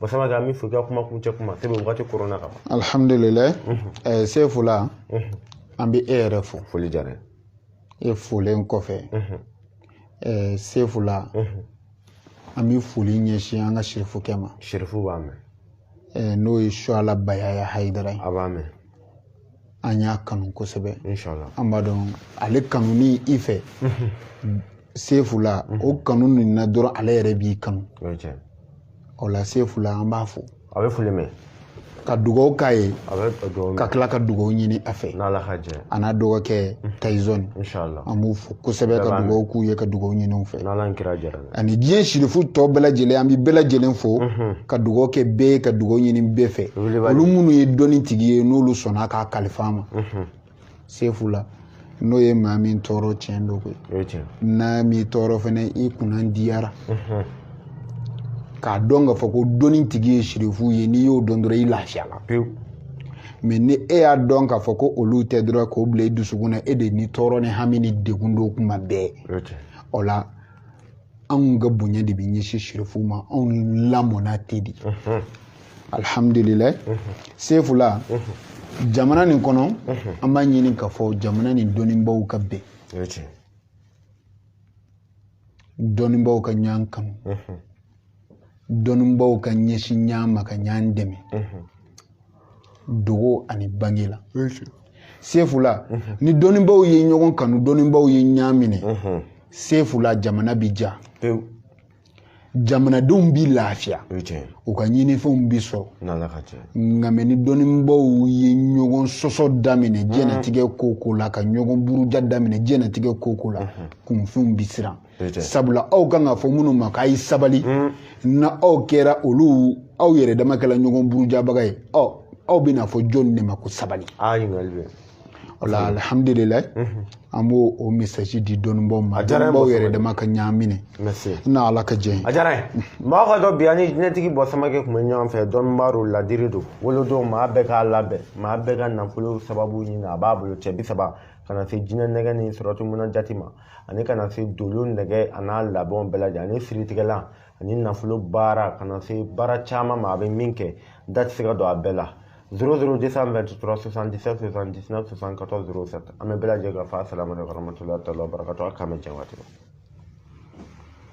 bɔ samakɛ min fɔ i ka kuma kuncɛ kuma sabu wagati koronna kaban alhamdulilayi eh, sefu la an bɛ e yɛrɛ fo foli diyara e folen kɔfɛ eh, sefu la an bɛ foli ɲɛsin an ka sirifukɛ ma sirifu b'a mɛn eh, n'o ye suala bayaya hayidara ye a b'a mɛn an y'a kanu kosɛbɛ an b'a dɔn ale kanu ni i fɛ sefu la o kanu nin na dɔrɔn ala yɛrɛ b'i kanu o la sefu la an b'a fo a bɛ foli mɛn ka dugawu k'a ye ka tila ka dugawu ɲini a fɛ a n'a dɔgɔkɛ tayizɔni an b'u fo kosɛbɛ ka dugawu k'u ye ka dugawu ɲini u fɛ ani diɲɛ sirifu tɔ bɛɛ lajɛlen an bɛ bɛɛ lajɛlen fo ka dugawu kɛ bɛɛ ye ka dugawu ɲini bɛɛ fɛ olu minnu ye dɔnni tigi ye n'olu sɔnna k'a kalifa an ma sefu la n'o ye maa min tɔɔrɔ tiɲɛ don koyi n'a m'i tɔɔrɔ fana i kunna diyara k'a dɔn k'a fɔ ko dɔnni tigi ye sirifu ye n'i y'o dɔn dɔrɔn i lafiyala pewu mɛ ni e y'a dɔn k'a fɔ ko olu tɛ dɔrɔn k'o bila i dusukun na e de ni tɔɔrɔ ni hami ni degun don kuma bɛɛ o la anw ka bonya de bɛ ɲɛsin sirifuw ma anw lamɔna ten de alhamdulilayi sefula jamana nin kɔnɔ an b'a ɲini k'a fɔ jamana nin dɔnnibaaw ka bɛn dɔnnibaaw ka ɲɔgɔn kanu dɔnnibaaw ka ɲɛsin ɲɔgɔn ma ka ɲɔgɔn dɛmɛ dogo ani bange la sefula ni dɔnnibaaw ye ɲɔgɔn kanu dɔnnibaaw ye ɲɔgɔn minɛ sefula jamana bi diya jamanadenw bi lafiya u ka ɲinifɛnw bi sɔrɔ nka mɛ ni dɔnnibaaw ye ɲɔgɔn sɔsɔ daminɛ diɲɛnatigɛ ko ko la ka ɲɔgɔn buruja daminɛ diɲɛnatigɛ ko ko la kunfinw bi siran sabula aw kan k'a fɔ minnu ma k'a ye sabali hmm. na aw kɛra olu aw yɛrɛ dama kɛla ɲɔgɔn burujabaga ye ɔ aw bɛna fɔ jɔnni de ma ko sabali o la alihamudulilayi hmm. an b'o o mesaji di dɔnnibaaw ma dɔnnibaaw yɛrɛ dama ka ɲɔgɔn minɛ na ala ka jɛ ye a diyara n ye mɔgɔ k'a dɔn bi an ni jinɛtigi bɔ samakɛ tun bɛ ɲɔgɔn fɛ dɔnnibaa don ladiri don wolo don maa bɛɛ k'a labɛn maa bɛɛ ka nafolo sababu ɲini a b'a bolo cɛ bi saba ka na se jinɛ nɛgɛ ni sɔrɔtumuna jati ma ani ka na se dolo nɛgɛ a n'a labɛnw bɛɛ lajɛlen ani siritigɛlan ani nafolo baara ka na se baara caman ma a bɛ min kɛ da tɛ se ka don a bɛɛ la 00 223 77 79 74 07 an bɛ bɛɛ lajɛlen ka fo asalamu aleykum warahmatullahi taala wabarakatuh a k'an bɛ jɛ waati la